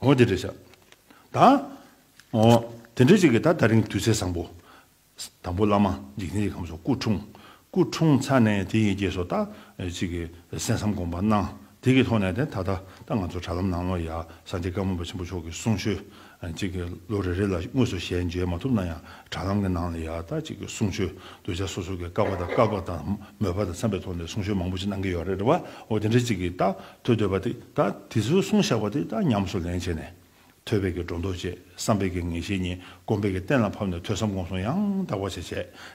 འོ་དེ་འདྲ་བྱ། ད་འོ་དེ་འདྲ་བྱེད་ཀྱི་ད་ད་རིང་དུས་ཚེས་བཟང་པོ། དང་པོ་བླ་མ་འཇིག་རྟེན་གྱི་ཁམས་སུ་སྐུ་འཁྲུངས། སྐུ་འཁྲུངས་ཚར་ནས་དེ་ཡི་རྗེས་སུ་ད་ཅིག་གི་གསན་བསམ་དགོངས་པ་གནང། དེ་གི་ཐོག་ནས་དེ་ད་ལྟ་ད་ང་ཚོ་དྲ་ལམ་ནང་ལོ་ཡ་ས་འདི་བཀའ་མོ་པ་ཆེན་པོ་མཆོག་གི་གསུང་ཆོས་ཅིག་གི་ལོ་རེ་རེ་ལ་དངོས་སུ་ཞལ་མཇལ་མ་ཐུབ་ན་ཡང་དྲ་ལམ་གི་ནང་ལ་ཡ་ད་ཅིག་གི་གསུང་ཆོས་གདུལ་བྱ་སོ་སོ་གི་བཀའ་བ་དང་བཀའ་བབས་དང་མོས་པ་དང་འཚམས་པའི་ཐོག་ནས་གསུང་ཆོས་མང་པོ་ཅིག་གནང་གི་ཡོད་རེད་བ་འོ་དེ་འདྲ་བྱེད་ཀྱི་ད་ཐོས་འདོད་པ་དེ་དག་དེ་ཚོའི་གསུང་བཞག་པ་དེ་དག་ཉམས་སུ་ལེན་བྱས་ནས། ཐོས་པས་ཀྱི་སྒྲོ་འདོགས་བཅད་བསམ་པས་ཀྱི་ངེས་ཤེས་གཉིས་སྒོམ་པས་ཀྱི་གཏན་ལ་ཕབ་ནས་ཐོས་བསམ་སྒོམ་གསུང་ཡང་དག་པ་བྱས་བྱས་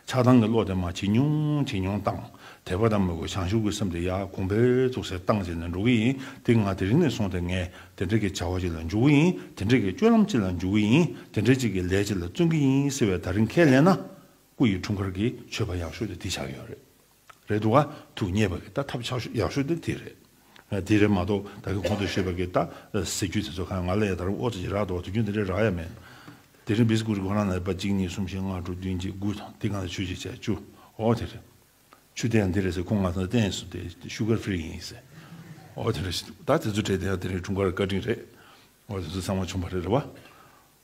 ཆགས་སྡང་གི་བློ་དེ་མ་ཇེ་ཉུང་ཇེ་ཉུང་བཏང། དད་པ་དང་མོས་གུས་བྱང་ཆུབ་ཀྱི་སེམས་དེ་ཡར་གོང་འཕེལ་བཙུགས་སེ་བཏང་བྱས་ནས་འགྲོ་གི་ཡིན་དེ་སྔར་དེ་རིང་ནས་བཟུང་སྟེ་ངས་དེ་འདྲ་གྱི་བྱ་བ་ཅིག་ལ་འཇུག་གི་ཡིན་དེ་འདྲ་གྱི་སྤྱོད་ལམ་ཅིག་ལ་འཇུག་གི་ཡིན་དེ་འདྲ་ཅིག་གི་ལས་ཅིག་ལ་བརྩོན་གི་ཡིན་ཟེར་བའི་ད་རིང་ཁས་ལེན་ན། སྐུ་ཡི་འཁྲུངས་སྐར་གྱི་མཆོད་པ་ཡག་ཤོས་དེ་འདི་ཆགས་ཡོད་རེད། རེད་འདུག་ཨ། ཐུགས་མཉེས་པ་གི་ད་ཐབས་ཆག་ཤོས་ཡག་ཤོས་འདི་དེ་རེད། དེ་རེད་མ་གཏོགས་ད་གི་གོང་དུ་བཤད་པ་གི་ད་ཟེར་རྒྱུ་དེ་ཚོ་གང་ང་ལས་ད་རུང་ཨོ་ཙི་ཅི་རག་འདུག་དུས་རྒྱུན་དེ་འདྲའི་རག་ཡ་མེད། དེ་རིང་བིས་ཀུ་རི་གོ་རང་ནས་པ་གཅིག་གཉིས་གསུམ་བཞི་ལྔ་དྲུག་བདུན་བརྒྱད་དགུ་དང་འདི་གང་ཟེ་ཆུ་གཅིག་བཅས་བཅུ་ཨོ་དེ་རེད། ཆུ་དེ་ཡང་འདི་རེད་ཟེ་ཁོང་ང་ཚོ་བསྟན་སོ་དེ Sugar Free ཡིན་ཟེ་ཨོ་དེ་རེད། ད་དེ་ཚོ་དྲས་དེ་ཡང་དེ་རིང་དྲུང་དཀར་བཀའ་དྲིན་རེད་ཨོ་དེ་ཚོ་ཚང་མ་བྱུང་བ་རེད་རེད་བ།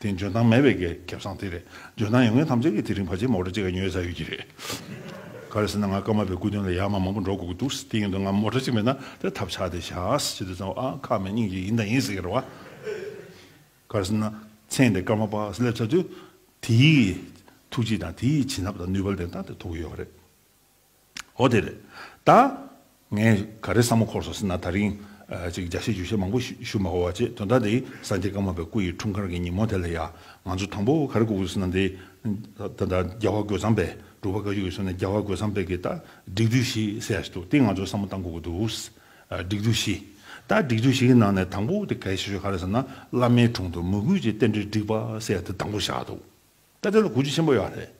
དེ་འཇོན་ཐང་མེད་པའི་གེགས་རྒྱབ་སངས་དེ་རེད། འཇོན་ཐང་ཡོད་མཁན་ཐམས་ཅད་ཀྱིས་དེ་རིང་བར་ཆད་མོག་ཏྲ་གཅིག་ག་ཉོས་ས་ཡོད་ཀྱི་རེད། ག་རེ་ཟེར་ན་ང་སྐར་མ་པའི་སྐུ་དོན་ལ་ཡར་མར་མང་པོ་འགྲོ་དགོས་ཀྱི་འདུག་དེ་ཡིན་དུ་ང་མོག་ཏྲ་གཅིག་མེད་ན་དེར་ཐབས་ཆག་དེ་བཞག་ཅི་དུས་ཙམ་ཨང་ཁ་མེད་སྙིང་རྗེ་ཡིན་དང་ཡིན་ཟེར་གི་རེད་བ། ག་རེ་ཟེར་ན་མཚན་དེ་སྐར་མ་པ་སླེབས་ཚར་དུས་དེའི་ཐུགས་རྗེ་དང་དེའི་བྱིན་རླབས་དང་ནུས་པ་ལ་བརྟེན་སྟངས་དེ་ཐོབ་ཀྱི་ཡོད་པ་རེད། ཨོ་དེ་རེད་ད། ངས་ག་རེ་བསམ་མ་ཁོར་སོང་ཟེར་ན་ད་རིང། ཅིག་བརྒྱ་བཤད་བཅུ་བཤད་མང་པོ་ཞུ་མ་གོ་བ་ཅེས་དོན་དག་འདི་སངས་རྒྱས་བཀའ་མ་པའི་སྐུ་ཡི་འཁྲུངས་སྐར་གྱི་ཉིན་མོ་དེ་ལ་ཡང་ང་ཚོས་དང་པོ་ག་རེ་གོ་དགོས་ཟེར་ན་འདི་ལྟར་ད་རྒྱལ་བ་རྒོད་ཚང་པས་འབྲུག་པ་བཀའ་བཅུ་ཡོད་ཟེར་ན་རྒྱལ་བ་རྒོད་ཚང་པས་ཀྱི་ད་སྒྲིག་འཛུགས་ཤིག་ཟེར་ཡག་ཞིག་འདུག་དེ་ང་ཚོས་བསམ་བློ་བཏང་དགོས་ཀྱི་འདུག་སྒྲིག་འཛུགས་ཤིག་ད་སྒྲིག་འཛུགས་ཤིག་གི་ནང་ནས་དང་པོ་དེ་གལ་ཆེ་ཤོས་ག་རེ་ཟེར་ན་བླ་མའི་དྲུང་དུ་མོས་གུས་ཀྱི་རྟེན་འབྲེལ་སྒྲིག་པ་ཟེར་ཡག་དེ་དང་པོ་བཞག་འདུག་ད་དེ་ལ་གོ་རྒྱུ་ཆེན་པོ་ཡོད་རེད།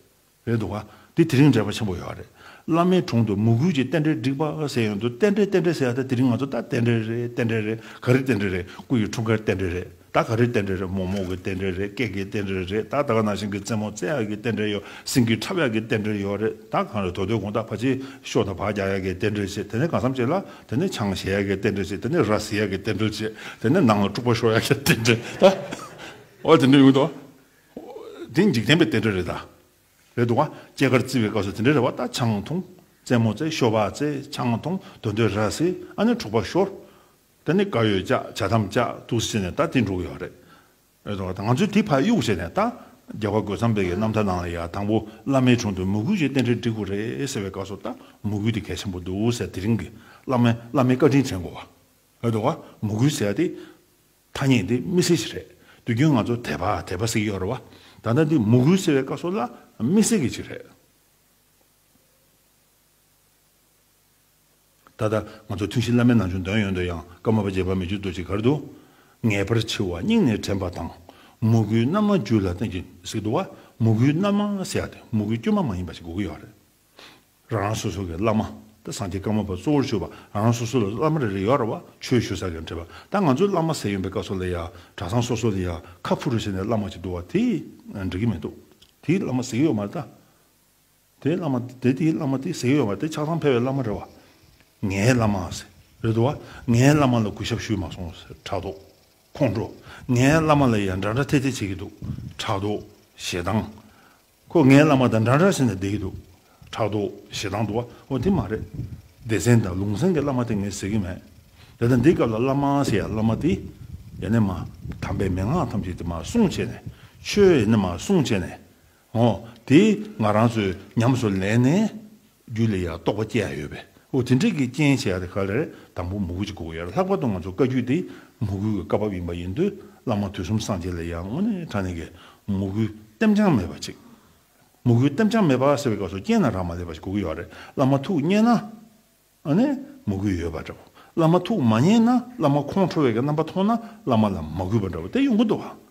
རེད་འདུག་ག་འདི་དེ་རིང་འབྲེལ་བ་ཆེན་པོ་ཡོད་རེད་བླ་མའི་དྲུང་དུ་མུ་གུལ་གྱི་རྟེན་འབྲེལ་བསྒྲིགས་པ་ཟེར་ཡོད་འདུག་རྟེན་འབྲེལ་རྟེན་འབྲེལ་ཟེར་ཡ་ད་དེ་རིང་ང་ཚོ་ད་རྟེན་འབྲེལ་རེད་རྟེན་འབྲེལ་རེད་ག་རེ་རྟེན་འབྲེལ་རེད་སྐུ་ཡི་འཁྲུངས་སྐར་རྟེན་འབྲེལ་རེད་ད་ག་རེ་རྟེན་འབྲེལ་རེད་མོག་མོག་གི་རྟེན་འབྲེལ་རེད་སྐད་ཀྱི་རྟེན་འབྲེལ་རེད་ད་ད་ག་ན་ཤིང་གི་རྩེ་མོ་རྩེ་ཡག་གི་རྟེན་འབྲེལ་ཡོད་སེང་གེའི་ཁྲབ་ཡག་གི་རྟེན་འབྲེལ་ཡོད་རེད་ད་གང་རེད་དོ་དོའི་གུང་ཐག་ཕ་ཆེའི་ཤོག་དང་བག་རྒྱག་ཡག་གི་རྟེན་འབྲེལ་བྱེད་དེ་ནས་གང་བསམ་བྱེད་ལ་དེ་ནས་ཆང་བཞེས་ཡག་གི་རྟེན་འབྲེལ་བྱེད་དེ་ནས་ར་བཟི་ཡག་གི་རྟེན་འབྲེལ་བྱེད་དེ་ནས་ནང་ལ་དཀྲུགས་པ་ཤོར་ཡག་གི་རྟེན་འབྲེལ་ད་འོ་དེ་འདྲ་ཡོད་འདུག་ག། འདི་འཇིག་རྟེན་པའི་གཏེར་འདྲ་རེད་ད། རེད་འདུག་ཨ། སྐྱེས་སྐར་བརྩི་བའི་སྐབས་སུ་དེ་འདྲའི་རེ་བ་ད་ཆང་འཐུང། རྩེད་མོ་རྩེ་ཤོ་བ་རྩེ་ཆང་འཐུང་འདོད་འདོད་ར་བཟི་ཨ་ནི་འཁྲུག་པ་ཤོར། ད་ནི་དགའ་ཡོད་ཅག་བྱ་དམ་ཅག་ཐུགས་བཟི་ནས་ད་དེ་འགྲོ་གི་ཡོད་རེད། རེད་འདུག་ཨ་ད་ང་ཚོས་དེ་ཕ་གཡུག་བྱས་ནས་ད། རྒྱལ་བ་རྒོད་ཚང་འབེ་གི་རྣམ་ཐར་ནང་ལ་ཡང་དང་པོ་བླ་མའི་དྲུང་དུ་མོས་གུས་ཀྱི་རྟེན་འབྲེལ་འགྲིག་དགོས་རེད་ཟེར་བའི་སྐབས་སུ་ད་མོས་གུས་དེ་གལ་ཆེན་པོ་འདུག་ཟེར་དེ་རིང་གི་བླ་མས་བླ་མའི་བཀའ་དྲིན་དྲན་དགོས་བ། རེད་འདུག་ཨ་མོས་གུས་ཟེར་ཡ་དེ། ཐ་སྙད་འདི་དམིགས་བསལ་ཞིག་རེད་དུས་རྒྱུན་ང་ཚོ་དད་པ་དད་པ་ཟེར་གྱི་ཡོད་རེད་བ། ད་ལྟ་འདི་མུ་གུལ་ཟེར་བའི་བཀའ་སྲོལ་ལ་དམིགས་བསལ་གྱི་ཅིག་རེད། ད་ལྟ་ང་ཚོ་ཐུན་བཞི་བླ་མའི་ནང་བྱོན་དོན་ཡོད་འདོད་ཡང་ཀརྨ་པ་རྗེ་འབངས་མི་བཅུ་བདུད་ཀྱི་གར་དུ་ངེས་པར་འཆི་བ་སྙིང་ནས་དྲན་པ་དང། མུ་གུའི་རྣམ་མང་རྒྱུད་ལ་བསྟན་གྱི་ཟིག་ཏུ་བ་མུ་གུའི་རྣམ་མང་ཟེར་ཡག་དེ་མུ་གུའི་དཀྱུས་མ་མ་ཡིན་པ་ཞིག་དགོས་ཀྱི་ཡོད་རེད། རང་རང་སོ་སོ་གི་བླ་མ་དང་སངས་རྒྱས་བཀའ་མོལ་བ་གཙོ་བོར་གྱུར་པ་རང་རང་སོ་སོ་ལ་བླ་མ་རེ་རེ་ཡོད་ར་བ་ཆོས་ཞུ་ས་གི་འདྲེས་པ་ད་ང་ཚོའི་བླ་མ་ཟེར་ཡོན་པའི་བཀའ་སོགས་ལས་ཡང་གྲྭ་ཚང་སོ་སོ་ནས་ཡང་ཁ་ཕུ་རུ་བྱས་ནས་བླ་མ་གཅིག་འདུག་བ་དེ་འགྲིག་གི་མི་འདུག་དེའི་བླ་མ་ཟེར་གི་ཡོད་མ་རེད་ད། དེའི་བླ་མ་དེ་དེའི་བླ་མ་དེ་ཟེར་གི་ཡོད་མ་རེད་དེ་ཆགས་སྡང་ཕལ་བའི་བླ་མ་རེད་བ། ངའི་བླ་མ་ཟེར་རེད་འདུག་བ་ངའི་བླ་མ་ལ་གུས་ཞབས་ཞུས་མ་སོང་ཟེར་དྲག་འདུག་ཁོང་ཁྲོ། ངའི་བླ་མ་ལ་ཡང་འདྲ་འདྲ་ཐེ་ཐེ་བྱེད་ཀྱི་འདུག་དྲག་འདུག་ཞེ་སྡང། ཁོ་ངའི་བླ་མ་དང་འདྲ་འདྲ་བྱས་ནས་བསྡད་ཀྱི་འདུག་ཕྲག་ཏུ་ཞེ་སྡང་འདུག་ཨོ་དེ་མ་རེད། སྡེ་ཚན་དང་ལུང་ཚན་གྱི་བླ་མ་དེ་ངས་ཟེར་གྱི་མེད། དེ་ལྟ་འདི་སྐབས་ལ་བླ་མ་ཟེར་ཡ་བླ་མ་དེ་ཡེ་ནས་མ། དམ་པའི་མན་ངག་ཐམས་ཅད་དེ་མ་སྲུང་བྱས་ནས་ཆོས་ཡེ་ནས་མ་སྲུང་བྱས་ནས། ཨོ་དེ་ང་རང་ཚོས་ཉམས་སུ་ལེན་ནས། རྒྱུ་ལས་ཡང་རྟོག་པ་སྐྱེ་ཡ་ཡོད་པས་འོ་དེ་འདྲས་ཀྱི་རྐྱེན་བྱས་ཡ་དེ་ག་ལ་རེད་དང་པོ་མུ་གུ་ཅིག་གོ་ཡར་ལྷག་པ་དང་ང་ཚོ་བཀའ་རྒྱུད་འདི་མུ་གུའི་བཀའ་བབས་ཡིན་པ་ཡིན་དུས་བླ་མ་དུས་གསུམ་སངས་རྒྱས་ལས་ཡང་དངོས་གནས་དྲང་གནས་ཀྱི་མུ་གུའི་ལྟེམ་རྐྱང་མེད་པ་ཅིག་མུ་གུའི་ལྟེམ་རྐྱང་མེད་པ་ཟེར་བའི་སྐབས་སུ་རྐྱེན་རྣམས་རག་མ་ལས་པ་ཞིག་གོ་གི་ཡོད་རེད་བླ་མ་ཐུགས་མཉེས་ན་ཨ་ནི་མུ་གུ་ཡོད་པ་འདྲ་བོ་བླ་མ་ཐུགས་མ་མཉེས་ན་བླ་མ་ཁོང་ཁྲོ་བས་ཀྱི་རྣམ་པ་མཐོང་ན་བླ་མ་ལ་མ་གུས་པ་འདྲ་བོ་དེ་ཡོང་གི་འདུག་ག།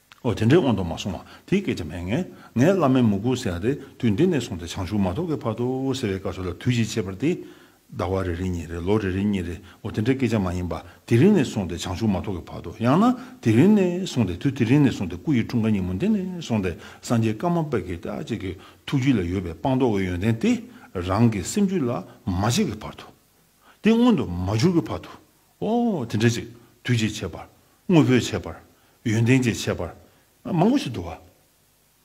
ཨོ་དེ་འདྲའི་དབང་དུ་མ་སོང་བ་དེའི་སྐད་ཆ་མེད། ངས་བླ་མའི་མུ་གུ་ཟེར་བ་དེ་དུས་འདི་ནས་བཟུང་སྟེ་བྱང་ཆུབ་མ་ཐོབ་ཀྱི་བར་དུ་ཟེར་བའི་སྐབས་སུ་ལ་དུས་ཀྱི་ཁྱད་པར་ཏེ། ཟླ་བ་རེ་རེ་ཉིན་རེ་ལོ་རེ་རེ་གཉིས་རེ་ཨོ་དེ་འདྲའི་སྐད་ཆ་མ་ཡིན་པར་དེ་རིང་ནས་བཟུང་སྟེ་བྱང་ཆུབ་མ་ཐོབ་ཀྱི་བར་དུ་ཡང་ན་དེ་རིང་ནས་བཟུང་སྟེ་དུས་དེ་རིང་ནས་བཟུང་སྟེ་སྐུ་ཡི་འཁྲུངས་སྐར་ཉིན་མོ་འདི་ནས་བཟུང་སྟེ་སངས་རྒྱས་བཀའ་མ་དཔེ་ཀྱི་བཀྲ་ཆེ་གི་ཐུགས་རྒྱུད་ལ་ཡོད་པའི་སྤངས་རྟོགས་ཀྱི་ཡོན་ཏན་དེ་རང་གི་སེམས་རྒྱུད་ལ་མ་བྱས་ཀྱི་བར་དུ། དེ་མངོན་དུ་མ་གྱུར་གྱི་བར་དུ། ཨོ། དེ་འདྲའི་ཅིག། དུས་ཀྱི་ཁྱད་པར། དངོས་པོའི་ཁྱད་པར། ཡོན་ཏན་གྱི་ཁྱད་པར། མང་པོ་ཞིག་འདུག་ག།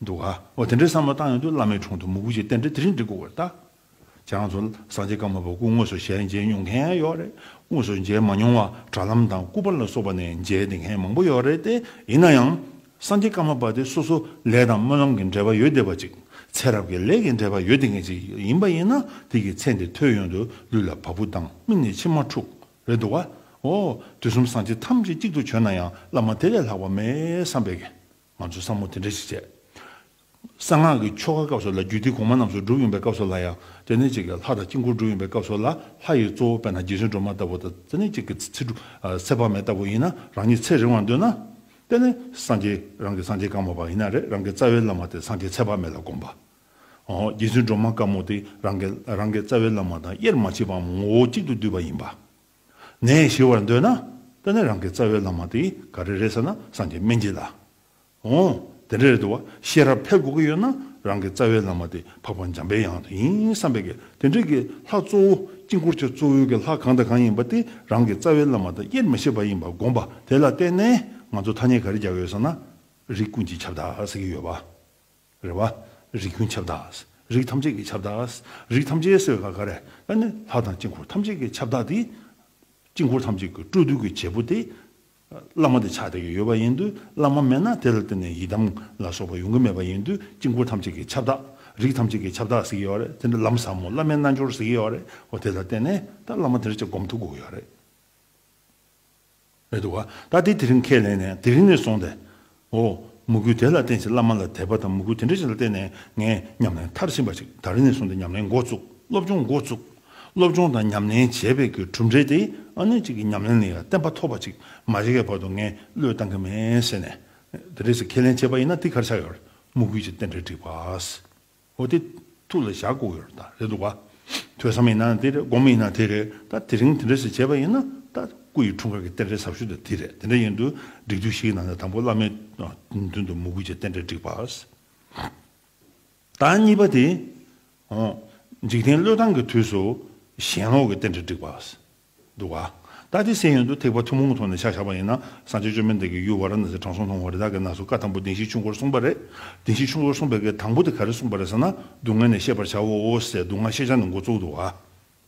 འདུག་ག། འོ་དེ་འདྲའི་བསམ་བློ་བཏང་ཡོང་དུས་བླ་མའི་དྲུང་དུ་མུ་གུ་ཞིག་བསྟན་འདྲི་དེ་རིང་འདྲི་དགོས་ཀྱི་རྟགས། ཁྱེད་རང་ཚོ་སངས་རྒྱས་བཀའ་མ་བབ་གོང་དངོས་སུ་ཞལ་མཇལ་མྱོང་མཁན་ཡོད་རེད། དངོས་སུ་མཇལ་མ་མྱོང་བ་དྲ་ལམ་དང་སྐུ་པར་ལ་སོགས་པ་ནས་མཇལ་བདེ་མཁན་མང་པོ་ཡོད་རེད་དེ། ཡིན་ན་ཡང། སངས་རྒྱས་བཀའ་མ་པ་དེ་སོ་སོ་ལས་དང་སྨོན་ལམ་གྱི་འབྲེལ་པ་ཡོད་དེ་བ་ཅིག་ཚེ་རབས་ཀྱི་ལས་ཀྱི་འབྲེལ་པ་ཡོད་དེ་ངེས་ཅིག་ཡིན་པ་ཡིན་ན་དེ་ཀྱི་ཚེ་འདི་ཐོས་ཡོན་དུ་ལུས་ལ་བ་སྤུ་ལྡང་སྨིན་ནས་མཆི་མ་འཁྲུག་རེད་འདུག་བ་འོ་དུས་གསུམ་སངས་རྒྱས་ཐམས་ཅད་གཅིག་ཏུ་བྱོན་ན་ཡང་བླ་མ་དེ་ལས་ལྷག་པ་མེད་བསམ་པས་ང་ཚོས་བསམ་བློ་དེ་འདྲ་ཞིག་བྱས། གསང་སྔགས་ཀྱི་ཆོ་ག་སྐབས་སུ་ལ་རྒྱུད་སྡེ་གོང་མ་རྣམས་སུ་སྒྲུབ་ཡོང་པའི་སྐབས་སུ་ལ་ཡང་ཙནྡན་གཅིག་གིས་ལྷ་དང་དཀྱིལ་འཁོར་སྒྲུབ་ཡོང་པའི་སྐབས་སུ་ལ་ལྷ་ཡི་གཙོ་བོ་དཔལ་དང་རྗེ་བཙུན་སྒྲོལ་མ་ལྟ་བུ་དང་ཙནྡན་གཅིག་གི་ཚེ་སྒྲུབ་ཚེ་དཔག་མེད་ལྟ་བུ་ཡིན་ན་རང་ཉིད་ཚེ་རིང་བར་འདོད་ན། དཔལ་ནི་སངས་རྒྱས་རང་གི་སངས་རྒྱས་དཀར་མོ་བ་ཡིན་ན་རེ་རང་གི་རྩ་བའི་བླ་མ་དེ་སངས་རྒྱས་ཚེ་དཔག་མེད་ལ་དགོངས་པ། རྗེ་བཙུན་སྒྲོལ་མ་དཀར་མོ་དེ་རང་གི་རང་གི་རྩ་བའི་བླ་མ་དང་དབྱེར་མ་མཆིས་པའམ་ངོ་བོ་གཅིག་ཏུ་འདུས་པ་ཡིན་པ། ནས་ཞི་བར་འདོད་ན། དཔལ་ནི་རང་གི་རྩ་བའི་བླ་མ་དེ་ག་རེ་རེད་ཟེར་ན་སངས་རྒྱས་སྨན་རྒྱལ་ལ། འོ། དེ་འདྲ་རེད་དུ་བ། ཤེས་རབ་འཕེལ་དགོས་ཀྱི་ཡོད་ན་རང་གི་རྩ་བའི་བླ་མ་དེ་འཕགས་པ་འཇམ་པའི་དབྱངས་དེ་ཡིན་བསམ་པས་དགེ། དེ་འདྲིས་ཀྱི་ལྷ་གཙོ་བོ་དཀྱིལ་འཁོར་ཆེན་གཙོ་བོའི་ཀྱི་ལྷ་གང་དང་གང་ཡིན་པ་དེ་རང་གི་རྩ་བའི་བླ་མ་དང་དབྱེར་མི་ཕྱེད་པ་ཡིན་པ་དགོངས་པ་དེ་ལ་བརྟེན་ནས་ང་ཚོ་ཐ་སྙད་ག་རེ་རྒྱག་ཡོད་ཟེར་ན། རིགས་ཀུན་གྱི་ཁྱབ་བདག་ཟེར་གྱི་ཡོད་པ། རེད་བ། རིགས་ཀུན་ཁྱབ་བདག། རིགས་ཐམས་ཅད་ཀྱི་ཁྱབ་བདག། རིགས་ཐམས་ཅད་ཟེར་བའི་ཁར་ག་རེ། ད་ནི་ལྷ་དང་དཀྱིལ་འཁོར་ཐམས་ཅད་ཀྱི་ཁྱབ་བདག་དེ། དཀྱིལ་འཁོར་ཐམས་ཅད་ཀྱི་སྤྲོ་བསྡུ་གྱི་བྱེད་པོ་དེ། བླ་མ་དེ་ཆགས་བསྡད་ཀྱི་ཡོད་པ་ཡིན་དུས་བླ་མ་མེད་ན་དེ་ལ་བརྟེན་ནས་ཡི་དམ་ལ་སོགས་པ་ཡོང་གི་མེད་པ་ཡིན་དུས་དཀྱིལ་འཁོར་ཐམས་ཅད་ཀྱི་ཁྱབ་བདག། རིགས་ཐམས་ཅད་ཀྱི་ཁྱབ་བདག་ཟེར་གྱི་ཡོད་རེད་དེ་འདྲ་ལམ་ཟབ་མོ་བླ་མའི་རྣལ་འབྱོར་ཟེར་གྱི་ཡོད་རེད་གོ་དེ་ལ་བརྟེན་ནས་ད་བླ་མ་དེ་འདྲ་ཅིག་སྒོམ་ཐུབ་དགོས་ཀྱི་ཡོད་རེད། རེད་འདུག་ག་ད་དེ་དེ་རིང་ཁས་ལེན་ནས་དེ་རིང་ནས་བཟུང་སྟེ་འོ། མོ་གུས་དེ་ལ་བརྟེན་ཞིང་བླ་མ་ལ་དད་པ་དང་མོ་གུས་དེ་འདྲ་ཞིག་ལ་བརྟེན་ནས་ངས་ཉམས་ལེན་མཐར་ཕྱིན་པ་ཞིག་ད་རེ་ནས་བཟུང་སྟེ་ཉམས་ལེན་འགོ་བཙུགས་སློབ་སྦྱོང་འགོ་བཙུགས། སློབ་སྦྱོང་དང་ཉམས་ལེན་བྱེད་པའི་གྱི་གྲུབ་འབྲས་དེ་ཨ་ནེ་གཅིག་གི་ཉམས་ལེན་ལས་ཡང་བསྟན་པ་ཐོབ་པ་ཅིག་མ་བྱེད་ཀའི་བར་དུ་ངས་བློས་བཏང་གི་མེད་ཟེར་ནས། དེ་འདྲ་ཞིག་ཁས་ལེན་བྱས་པ་ཡིན་ན་དེ་གར་ཆགས་ཡོད། མོ་གུས་ཀྱིས་རྟེན་འབྲེལ་བསྒྲིགས་པ། འོ་དེ་ཐུགས་ལ་བཞག་དགོས་ཀྱི་རེད་དང་རེད་འདུག་ག། ཐོས་བསམ་ཡིན་ན་དེ་རེད་སྒོམ་ཡིན་ན་དེ་རེད་ད་དེ་རིང་དེ་འདྲ་ཞིག་བྱས་པ་ཡིན་ན་ད་སྐུ་ཡི་འཁྲུངས་སྐར་གྱི་རྟེན་འབྲེལ་ཟབ་ཤོས་དེ་དེ་རེད་དེ་འདྲ་ཡིན་དུས་སྒྲིག་དུས་ཤིག་ནང་ནས་དང་པོ་བླ་མའི་མདུན་དུ་མོས་གུས་ཀྱི་རྟེན་འབྲེལ་བསྒྲིགས་པ། ད་གཉིས་པ་དེ་འཇིག་རྟེན་བློས་བཏང་གི་དུས་སུ་ཞེན་ལོག་གི་རྟེན་འབྲེལ་བསྒྲིགས་པ། འདུག་ག། ད་དེ་སེམས་ཡོད་དུ་ཐེག་པ་ཐུན་མོང་གི་ཐོག་ནས་ཆ་བཞག་པ་ཡིན་ན་སངས་རྒྱས་བཅོས་མའི་མདུན་གྱི་ཡུལ་བ་ར་ན་སིའི་དྲང་སྲོང་ལྷུང་བ་རི་དྭགས་ཀྱི་ནགས་སུ་བཀའ་དང་པོ་བདེན་བཞིའི་ཆུ་འགོར་གསུངས་པ་རེད། བདེན་བཞིའི་ཆུ་འགོར་གསུངས་པའི་གེགས་དང་པོ་དེ་ག་རེ་གསུངས་པ་རེད་ཟེར་ན་སྡུག་བསྔལ་ནས་ཤེས་པར་བྱའོ་ཟེར་སྡུག་བསྔལ་ཤེས་བྱ་ནི་འགོ་བཙུགས་འདུག་ག།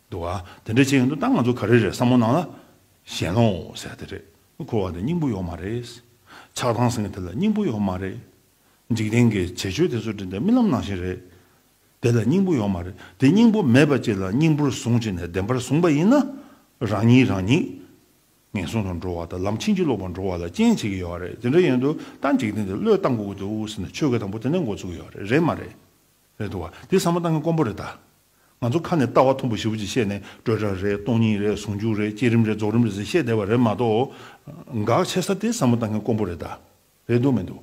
འདུག་ག། དེ་འདྲའི་བྱེད་ཡོད་དུ་ད་ང་ཚོ་ག་རེ་རེད་བསམ་བློ་གནང་ལ། གཞན་ལོ་ཟེར་དེ་རེད། འཁོར་བ་འདི་སྙིང་པོ་ཡོད་མ་རེད། ཆགས་སྡང་ཟེར་མཁན་དེ་ལ་སྙིང་པོ་ཡོད་མ་རེད། འཇིག་རྟེན་གྱི་བྱེད་སྤྱོད་དེ་ཚོ་དྲིན་དང་རྨི་ལམ་ནང་བཞིན་རེད། དེ་ལ་སྙིང་པོ་ཡོད་མ་རེད་དེ་སྙིང་པོ་མེད་པ་ཅིག་ལ་སྙིང་པོར་བཟུང་བྱས་ནས་བདེན་པར་བཟུང་བ་ཡིན་ན། རང་ཉིད་རང་ཉིད། ངན་སོང་དུ་འགྲོ་བ་དང་ལམ་ཕྱིན་ཅི་ལོག་པར་འགྲོ་བ་ལ་རྐྱེན་བྱེད་ཀྱི་ཡོད་རེད་དེ་འདྲ་ཡོད་འདུག་ད་འཇིག་རྟེན་འདི་བློས་བཏང་གུ་གུ་དེ་འུ་ཟེར་ནས་ཆོས་གོས་དང་པོ་དེ་ནས་འགོ་བཙུགས་ཡོད་རེད་རེད་མ་རེད། རེད་འདུག་བ་དེ་ཟ་མ་ཏང་གི་དཀོན་པོ་རེད་ད། ང་ཚོ་ཁ་ནས་ལྟ་བ་ཐུང་པོ་བཞི་བོ་ཅིག་བཤད་ནས་སྤྲོས་བྲལ་རེད་སྟོང་ཉིད་རེད་ཟུང་འཇུག་རེད་བསྐྱེད་རིམ་རེད་རྫོགས་རིམ་རེད་ཟེར་བཤད་བསྡད་པ་རེད་མ་གཏོགས། དགག་བྱེད་ས་དེ་ཟ་མ་ཏང་གི་དཀོན་པོ་རེད་ད། རེད་འདུག་མི་འདུག།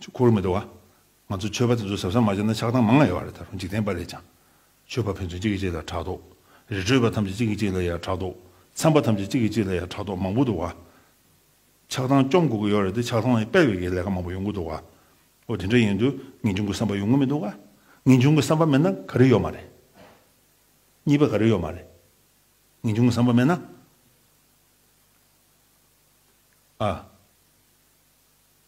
ཆོས་འཁོར་ལོ་མི་འདྲ་བ། ང་ཚོ་ཆོས་པ་དེ་ཚོ་ཟབ་ས་མ་ཆགས་ན་ཆགས་སྟངས་མང་ང་ཡོད་པ་རེད་ད་རུང་འཇིག་རྟེན་པ་ལས་ཀྱང། ཆོས་པ་ཕན་ཚུན་གཅིག་གིས་གཅིག་ལ་ཕྲག་དོག། རི་ཁྲོད་པ་ཐམས་ཅད་གཅིག་གིས་གཅིག་ལ་ཡང་ཕྲག་དོག། ཚན་པ་ཐམས་ཅད་གཅིག་གིས་གཅིག་ལ་ཡང་ཕྲག་དོག་མང་པོ་འདུག་བ། ཆགས་སྟངས་སྐྱོང་དགོས་ཀྱི་ཡོད་རེད་དེ་ཆགས་སྟངས་སྤེལ་བའི་གི་ལས་ཀ་མང་པོ་ཡོང་གི་འདུག་བ། ཨོ་དེ་འདྲ་ཡིན་དུས་ངེས་འབྱུང་གི་བསམ་པ་ཡོང་གི་མི་འདུག་བ། ངེས་འབྱུང་གི་བསམ་པ་མེད་ན་ག་རེ་ཡོད་མ་རེད། གཉིས་པ་ག་རེ་ཡོད་མ་རེད། ངེས་འབྱུང་གི་བསམ་པ་མེད་ན། ཨ།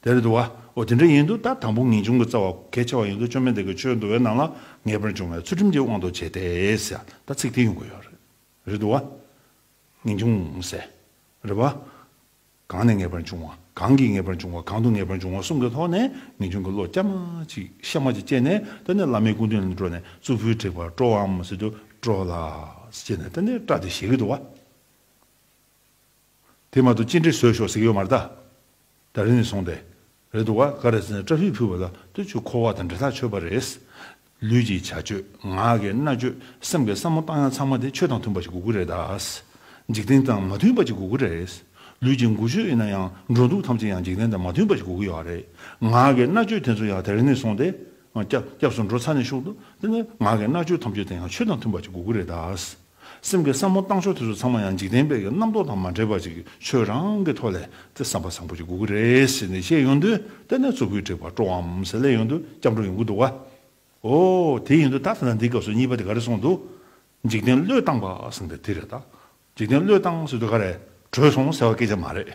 དེར་འདུག་བ། འོ་དེ་འདྲ་ཡིན་འདུག་ད་དང་པོ་ངེས་འབྱུང་གི་རྩ་བ་གལ་ཆེ་བ་ཡིན་འདུག་བཅོས་མའི་འདས་ཀྱི་ཆོས་འདུལ་བའི་ནང་ལ་ངེས་པར་འབྱུང་བའི་ཚུལ་ཁྲིམས་ཀྱི་དབང་དུ་བྱས་ཏེ། ད་ཚིག་དེ་ཡོང་གི་ཡོད། རེད་འདུག་བ། ངེས་འབྱུང། རེད་བ། གང་ནས་ངེས་པར་འབྱུང་བ་གང་གིས་ངེས་པར་འབྱུང་བ་གང་དུ་ངེས་པར་འབྱུང་བ་གསུམ་གྱི་ཐོག་ནས་ངེས་འབྱུང་གི་བློ་སྐྱར་མ་ཅིག་གཤའ་མ་ཅིག་སྐྱེས་ནས་ད་ནི་བླ་མའི་སྐུ་མདུན་ལ་འགྲོ་ནས་གཙུག་ཕུད་དྲེགས་པར་སྤྲོ་བའམ་ཟེར་དུ་སྤྲོ་ལ། ཅེས་ནས་ད་ནི་སྐྲག་སྟེ་བཞེས་ཀྱི་འདུག་བ། དེ་མ་གཏོགས་ཅི་འདྲའི་ཟོས་ཤོག་ཟེར་གྱི་ཡོད་མ་རེད་དཱ། ད་རིང་ནས་བཟུང་སྟེ། རེད་འདུག་ག་ག་རེ་ཟེར་ན་བཀྲ་ཤིས་ཕུལ་བ་ལ་ལྟོས་ཆོས་འཁོར་བ་དང་འབྲེལ་ཐག་ཆོད་པ་རེད། ལུས་ཀྱི་བྱ་སྤྱོད། ངག་གི་རྣ་སྤྱོད། སེམས་ཀྱི་བསམ་བློ་བཏང་ཡང་ཚང་མ་དེ་ཆོས་དང་མཐུན་པ་ཞིག་དགོས་ཀྱི་རེད་དཱ། འཇིག་རྟེན་དང་མ་མཐུན་པ་ཅིག་དགོས་ཀྱི་རེད། ལུས་ཀྱི་མགུལ་ཆོས་ཡིན་ན་ཡང་འགྲོ་འདུག་ཐམས་ཅད་ཡང་འཇིག་རྟེན་དང་མ་མཐུན་པ་ཞིག་དགོས་ཀྱི་ཡོད་རེད། ངག་གི་རྣ་སྤྱོད་དེ་ཚོ་ཡང་ད་རིང་ནས་བཟུང་སྟེ། སྐྱབས་སུ་འགྲོ་ཚར་ནས་ཤུགས་ཏུ། དེ་ནི་ངག་གི་རྣ་སྤྱོད་ཐམས་ཅད་དེ་ཡང་ཆོས་དང་མཐུན་པ་ཅིག་དགོས་ཀྱི་རེད་དཱ། སེམས་ཀྱི་བསམ་བློ་བཏང་ཕྱོགས་དེ་ཚོ་ཚང་མ་ཡང་འཇིག་རྟེན་པའི་རྣམ་རྟོག་དང་མ་འདྲེས་པ་ཅིག་ཆོས་རང་གི་ཐོག་ལས་དེ་བསམ་པ་བཟང་པོ་ཅིག་དགོས་ཀྱི་རེད་ཟེར་ནས་བཤད་ཡོང་དུས་དེ་ནས་ཚོ་གུས་དྲེགས་པ་སྤྲོ་འམ་ཟེར་སླད་ཡོང་དུས་སྐྱབས་འགྲོ་ཡོང་གི་འདུག་ག། ཨོ། དེ་ཡིན་དུས་ད་ཐེངས་འདིའི་སྐབས་སུ་གཉིས་པ་དེ་ག་རེ་གསུངས་འདུག་འཇིག་རྟེན་བློས་བཏང་པ་ཟེར་ནས་དེ་རེད་ད། འཇིག་རྟེན་བློས་བཏང་ཟེར་དུས་ག་རེ་བྲོས་སོང་ཟེར་བ་སྐད་ཆ་མ་རེད།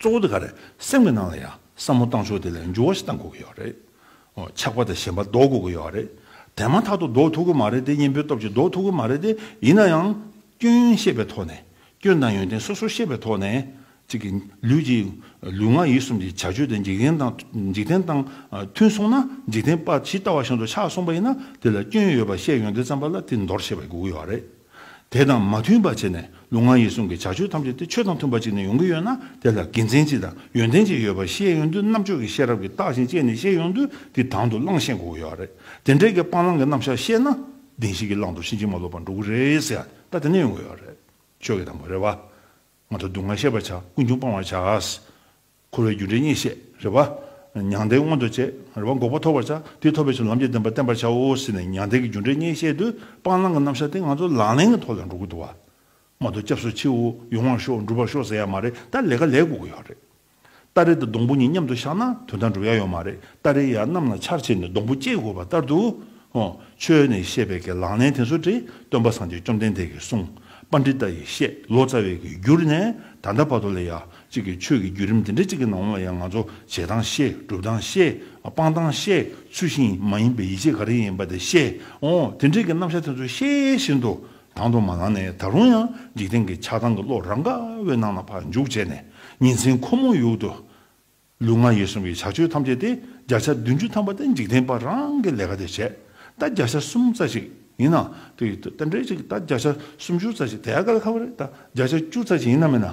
གཙོ་བོ་དེ་ག་རེད་སེམས་ཀྱི་ནང་ལ་ཡང་བསམ་བློ་བཏང་ཆོག་དེ་ལས་འགྱུར་བ་ཞིག་བཏང་དགོས་ཀྱི་ཡོད་རེད། ཆགས་པ་དང་ཞེན་པ་ཟློག་དགོས་ཀྱི་ཡོད་རེད། དེ་མ་ཐག་ཏུ་ཟློག་ཐུབ་ཀྱི་མ་རེད་དེ་གཉེན་པོའི་སྟོབས་ཀྱིས་ཟློག་ཐུབ་ཀྱི་མ་རེད་དེ་ཡིན་ན་ཡང། སྐྱོན་ཡོན་ཤེས་པའི་ཐོག་ནས་སྐྱོན་དང་ཡོན་ཏན་སོ་སོར་ཤེས་པའི་ཐོག་ནས། གཅིག་གིས་ལུས་ཀྱི་ལུས་ངག་ཡིད་གསུམ་གྱི་བྱ་སྤྱོད་དེ་འཇིག་རྟེན་དང་འཇིག་རྟེན་དང་མཐུན་སོང་ན་འཇིག་རྟེན་པ་ཇི་ལྟ་བ་བཞིན་དུ་ཆགས་སོང་པ་ཡིན་ན་དེ་ལ་སྐྱོན་ཡོད་པ་ཤེས་ཡོན་ཏན་བརྩམས་པ་ལ་དེ་འདོར་ཤེས་པ་དགོས་ཀྱི་ཡོད་རེད། དེ་དང་མ་མཐུན་པ་བྱས་ནས་ལུས་ངག་ཡིད་གསུམ་གྱི་བྱ་སྤྱོད་ཐམས་ཅད་དེ་ཆོས་དང་མཐུན་པ་ཅིག་ནས་ཡོང་གི་ཡོད་ན་དེ་ལ་དགེ་མཚན་ཅི་དང་ཡོན་ཏན་ཅི་ཡོད་པ་ཤེས་ཡོང་དུས་རྣམ་དཔྱོད་ཀྱི་ཤེས་རབ་ཀྱིས་བརྟགས་ཤིང་དཔྱད་ནས་ཤེས་ཡོང་དུས་དེ་དང་དུ་བླངས་ཤེས་འགོ་གི་ཡོད་རེད་དེ་འདྲས་ཀྱི་སྤང་བླང་གི་རྣམ་གཞག་ཤེས་ན་བདེན་ཞིག་གིས་བླངས་འདུག་ཕྱིན་ཅི་མ་ལོག་པར་འགྲོ་གི་རེད་ཟེར་ཡང་ད་དེ་ནས་ཡོང་གི་ཡོད་རེད་ཆོས་ཀྱི་དང་པོ་རེད་བ། ང་ཚོ་སྡུག་བསྔལ་ཤེས་པར་བྱ་ཀུན་འབྱུང་སྤང་བར་བྱ། འཁོར་བའི་རྒྱུ་འབྲས་གཉིས་བཤད། རེ་བ། མྱང་འདས་མངོན་དུ་བྱེད། རེ་བ་འགོག་པ་ཐོབ་བར་བྱ། དེ་ཐོབ་པའི་ཕྱིར་ལམ་གྱི་བདེན་པ་བསྟན་པར་བྱའོ་ཟེར་ནས་མྱང་འདས་ཀྱི་རྒྱུ་འབྲས་གཉིས་བཤད་དུས་སྤང་བླང་གི་རྣམ་གཞག་དེ་ང་ཚོ་ལག་ལེན་གྱི་ཐོག་ལས་འགྲོ་གི་འདུག་བ། མ་དོ་སྐྱབས་སུ་མཆིའོ་ཡོང་བར་ཤོག་འགྲུབ་པར་ཤོག་ཟེར་ཡ་མ་རེད་ད་ལས་ཀ་ལས་དགོས་ཀྱི་ཡོད་རེད། སྟ་རེ་དང་སྡོང་བུ་གཉིས་མཉམ་དུ་བཞག་ན་དོན་དག་འགྲུབ་ཡ་ཡོད་མ་རེད་སྟ་རེ་ཡར་གནམ་ལ་ཕྱར་བྱས་ནས་སྡོང་བུ་བསྐྱེད་དགོས་པ་ལྟར་དུ། ཆོས་ནས་བཤད་པའི་གི་ལག་ལེན་དེ་ཚོ་དེ་སྟོན་པ་སངས་རྒྱས་བཅོམ་ལྡན་འདས་ཀྱིས་གསུངས་པ་འདི་ལྟ་ཡི་བཤད་ལོ་ཙཱ་བའི་གི་འགྱུར་ནས་ད་ལྟ་བར་དུ་ལས་ཡ་གཅིག་གིས་ཆོས་ཀྱི་བརྒྱུད་རིམ་འདི་འདྲ་གཅིག་གི་ནང་ལོངས་ཡང་ང་ཚོ་བྱེད་སྟངས་ཤེས་སྒྲུབ་སྟངས་ཤེས་སྤང་སྟངས་ཤེས་ཚུལ་བཞིན་མ་ཡིན་པའི་ཡིད་ཆེས་ག་རེ་ཡིན་པ་དེ་ཤེས་ཨོ་དེ་འདྲའི་གི་རྣམ་གཞག་དེ་ཚོ་ཤེས་བཞིན་དུ་དང་དུ་མ་ལངས་ནས་ད་རུང་ཡང་འཇིག་རྟེན་གྱི་ཆགས་སྡང་གི་བློ་རང་ག་བའི་ནང་ན་འཕགས་འཇུག་བྱས་ནས་ཉིན་མཚན་ཁོ་མོ་ཡུག་ཏུ་ལུས་ངག་ཡིད་གསུམ་གྱི་བྱ་སྤྱོད་ཐམས་ཅད་དེ་བརྒྱ་ཆ་བདུན་ཅུ་ཐམ་པ་དེ་འཇིག་རྟེན་པ་རང་གི་ལས་ཀ་དེ་བྱས་ད་བརྒྱ་ཆ་གསུམ་རྩ་ཞིག་ཡིན་ན་དེ་ཡུལ་ད་འདྲས་ཅིག་ད་བརྒྱ་ཆ་སུམ་ཅུ་རྩ་ཞིག་དེ་ཨ་ག་ལ་ཁ་བ་རེད་ད་བརྒྱ་ཆ་བཅུ་རྩ་ཞིག་ཡིན་ན་མིན་ན་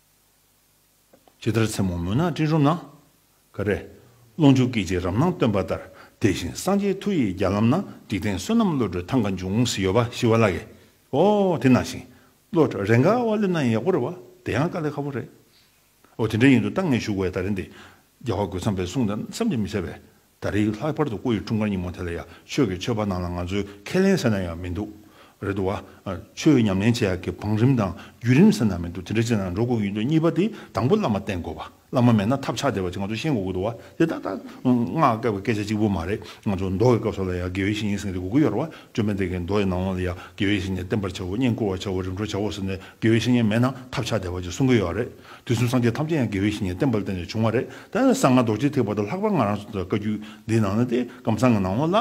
ཇི་ལྟར་མཚན་མོ་མུན་ནག་སྤྲིན་རུམ་ན། ཀ་རས། རླུང་འཇུག་སྐད་ཅིག་རབ་སྣང་སྟོན་པ་ལྟར། དེ་བཞིན་སངས་རྒྱས་མཐུ་ཡིས་རྒྱ་ལམ་ན། འཇིག་རྟེན་བསོད་ནམས་བློ་གྲོས་ཐང་ག་འབྱུང། ཞི་བ་ཞི་བ་ལ་ཡི། ཨོ། དེ་ནང་བཞིན། བློ་གྲོས་རེས་འགའ་དབའ་བློན་ན་ཡང་ཡག་པོ་རེད་བ། དེ་ཡང་དཀའ་ལས་ཁ་བོ་རེད། ཨོ་དེ་འདྲ་ཡིན་དུ་ལྟ་ངས་ཞུ་དགོས་ཡ་ད་རེད་འདི། རྒྱལ་བ་རྒོད་ཚང་པའི་གསུང་ལྟར་བསམ་གྱིས་མི་ཁྱབ་པའི། ད་རེས་ལྷག་པར་དུ་སྐུ་ཡི་འཁྲུངས་སྐར་ཉིན་མོ་དེ་ལ་ཡང་ཆོས་ཀྱི་མཆོད་པ་གནང་ན་ང་ཚོས་ཁས་ལེན་ཟེར་ན་ཡང་མི་འདུག་རེད་འདུག་བ། ཆོས་ཉམས་ལེན་བྱེད་ཡག་གི་བང་རིམ་དང་བརྒྱུད་རིམ་ཟེར་ན་མི་འདུག་དེ་འདྲ་བྱེད་ན་འགྲོ་དགོས་ཀྱི་ཡོད་འདུག་གཉིས་པ་དེ་དང་པོ་བླ་མ་བསྟེན་དགོས་བ། བླ་མ་མེད་ན་ཐབས་ཆག་སྡེ་བ་ཅིག་ང་ཚོས་ཤེས་དགོས་ཀྱི་འདུག་བ། དེ་ཏག་ཏག་སྔགས་སྐབས་ཀྱི་སྐད་ཆ་གཅིག་པུ་མ་རེད་ང་ཚོ་མདོ་ཡི་སྐབས་སོགས་ལ་ཡང་དགེ་བའི་བཤེས་གཉེན་སེང་གེ་དགུ་དགུ་ཡོད་རེད་བ། བཅོམ་ལྡན་འདས་ཀྱིས་མདོ་ཡི་ནང་དབང་ལ་ཡང་དགེ་བའི་བཤེས་གཉེན་བསྟེན་པར་བྱའོ་བསྙེན་བཀུར་བར་བྱའོ་རིམ་གྲོ་བྱའོ་ཟེར་ནས་དགེ་བའི་བཤེས་གཉེན་མེད་ན་ཐབས་ཆག་སྡེ་བ་ཅིག་གསུང་གི་ཡོད་རེད། དུས་གསུམ་སངས་རྒྱས་ཐམས་ཅད་ཡང་དགེ་བའི་བཤེས་གཉེན་བསྟེན་པ་ལ་བརྟེན་ནས་བྱུང་བ་རེད། ད་ཡང་གསང་སྔགས་རྡོ་རྗེ་ཐེག་པ་དང་ལྷག་པར་ང་རང་སོ་སོའི་བཀའ་བརྒྱུད་འདིའི་ནང་ན་སྟེ་ཀམ་ཚང་གི་ནང་ངོ་ལ།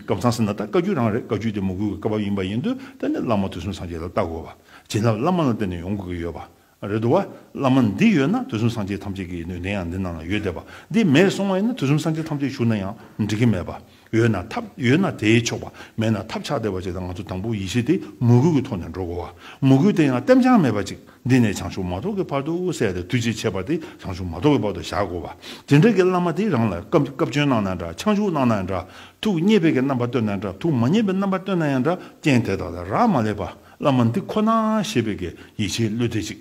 ཀམ་ཚང་ཟེར་ན་ད་བཀའ་བརྒྱུད་རང་རེད་བཀའ་བརྒྱུད་དེ་མོ་གུས་ཀྱི་བཀའ་བབས་ཡིན་པ་ཡིན་དུས་ད་ནི་བླ་མ་དུས་གསུམ་སངས་རྒྱས་ལ་བལྟ་དགོས་པ། བྱིན་རླབས་བླ་མ་ལ་བརྟེན་ནས་ཡོང་དགོས་ཀྱི་ཡོད་པ། རེད་དོ། བླ་མ་འདི་ཡོད་ན་དུས་གསུམ་སངས་རྒྱས་ཐམས་ཅད་ཀྱི་ནུས་ལྡན་ཡང་འདི་ནང་ན་ཡོད་བསྡད་པ། འདི་མེད་སོང་བ་ཡིན་ན་དུས་གསུམ་སངས་རྒྱས་ཐམས་ཅད་བཞུགས་ན་ཡང་འགྲིག་གི་མེད་པ། ཡོད་ན་ཐབས་ཡོད་ན་དེས་ཆོག་པ་མེད་ན་ཐབས་ཆགས་བདེ་བ་ཅིག་དང་ང་ཚོ་དང་པོ་ཡེ་ཤེས་དེ་མོས་གུས་ཀྱི་ཐོག་ནས་འགྲོ་དགོས་བ། མོས་གུས་དེ་ཡང་ལྟེམ་བྱང་མེད་པ་ཅིག་འདི་ནས་བྱང་ཆུབ་མ་ཐོབ་ཀྱི་བར་དུ་དབུ་གསལ་ཏེ་དུས་ཅིག་ཆད་པ་དེ་བྱང་ཆུབ་མ་ཐོབ་ཀྱི་བར་དུ་བཞག་དགོས་བ། དེ་འདྲ་གི་བླ་མ་དེ་རང་ལ་སྐབས་བསྐྱོན་གནང་ན་འདྲ་འཆང་ཞུགས་གནང་ན་འདྲ་ཐུགས་མཉེས་པའི་གི་རྣམ་པ་སྟོན་ན་འདྲ་ཐུགས་མ་མཉེས་པའི་རྣམ་པ་སྟོན་ན་ཡང་འདྲ་རྐྱེན་དེ་དག་ལ་རག་མ་ལས་པ་བླ་མ་འདི་ཁོ་ན་ཞེས་པའི་གི་ཡིད་ཆེས་བློས་བཏེགས་ཅིག།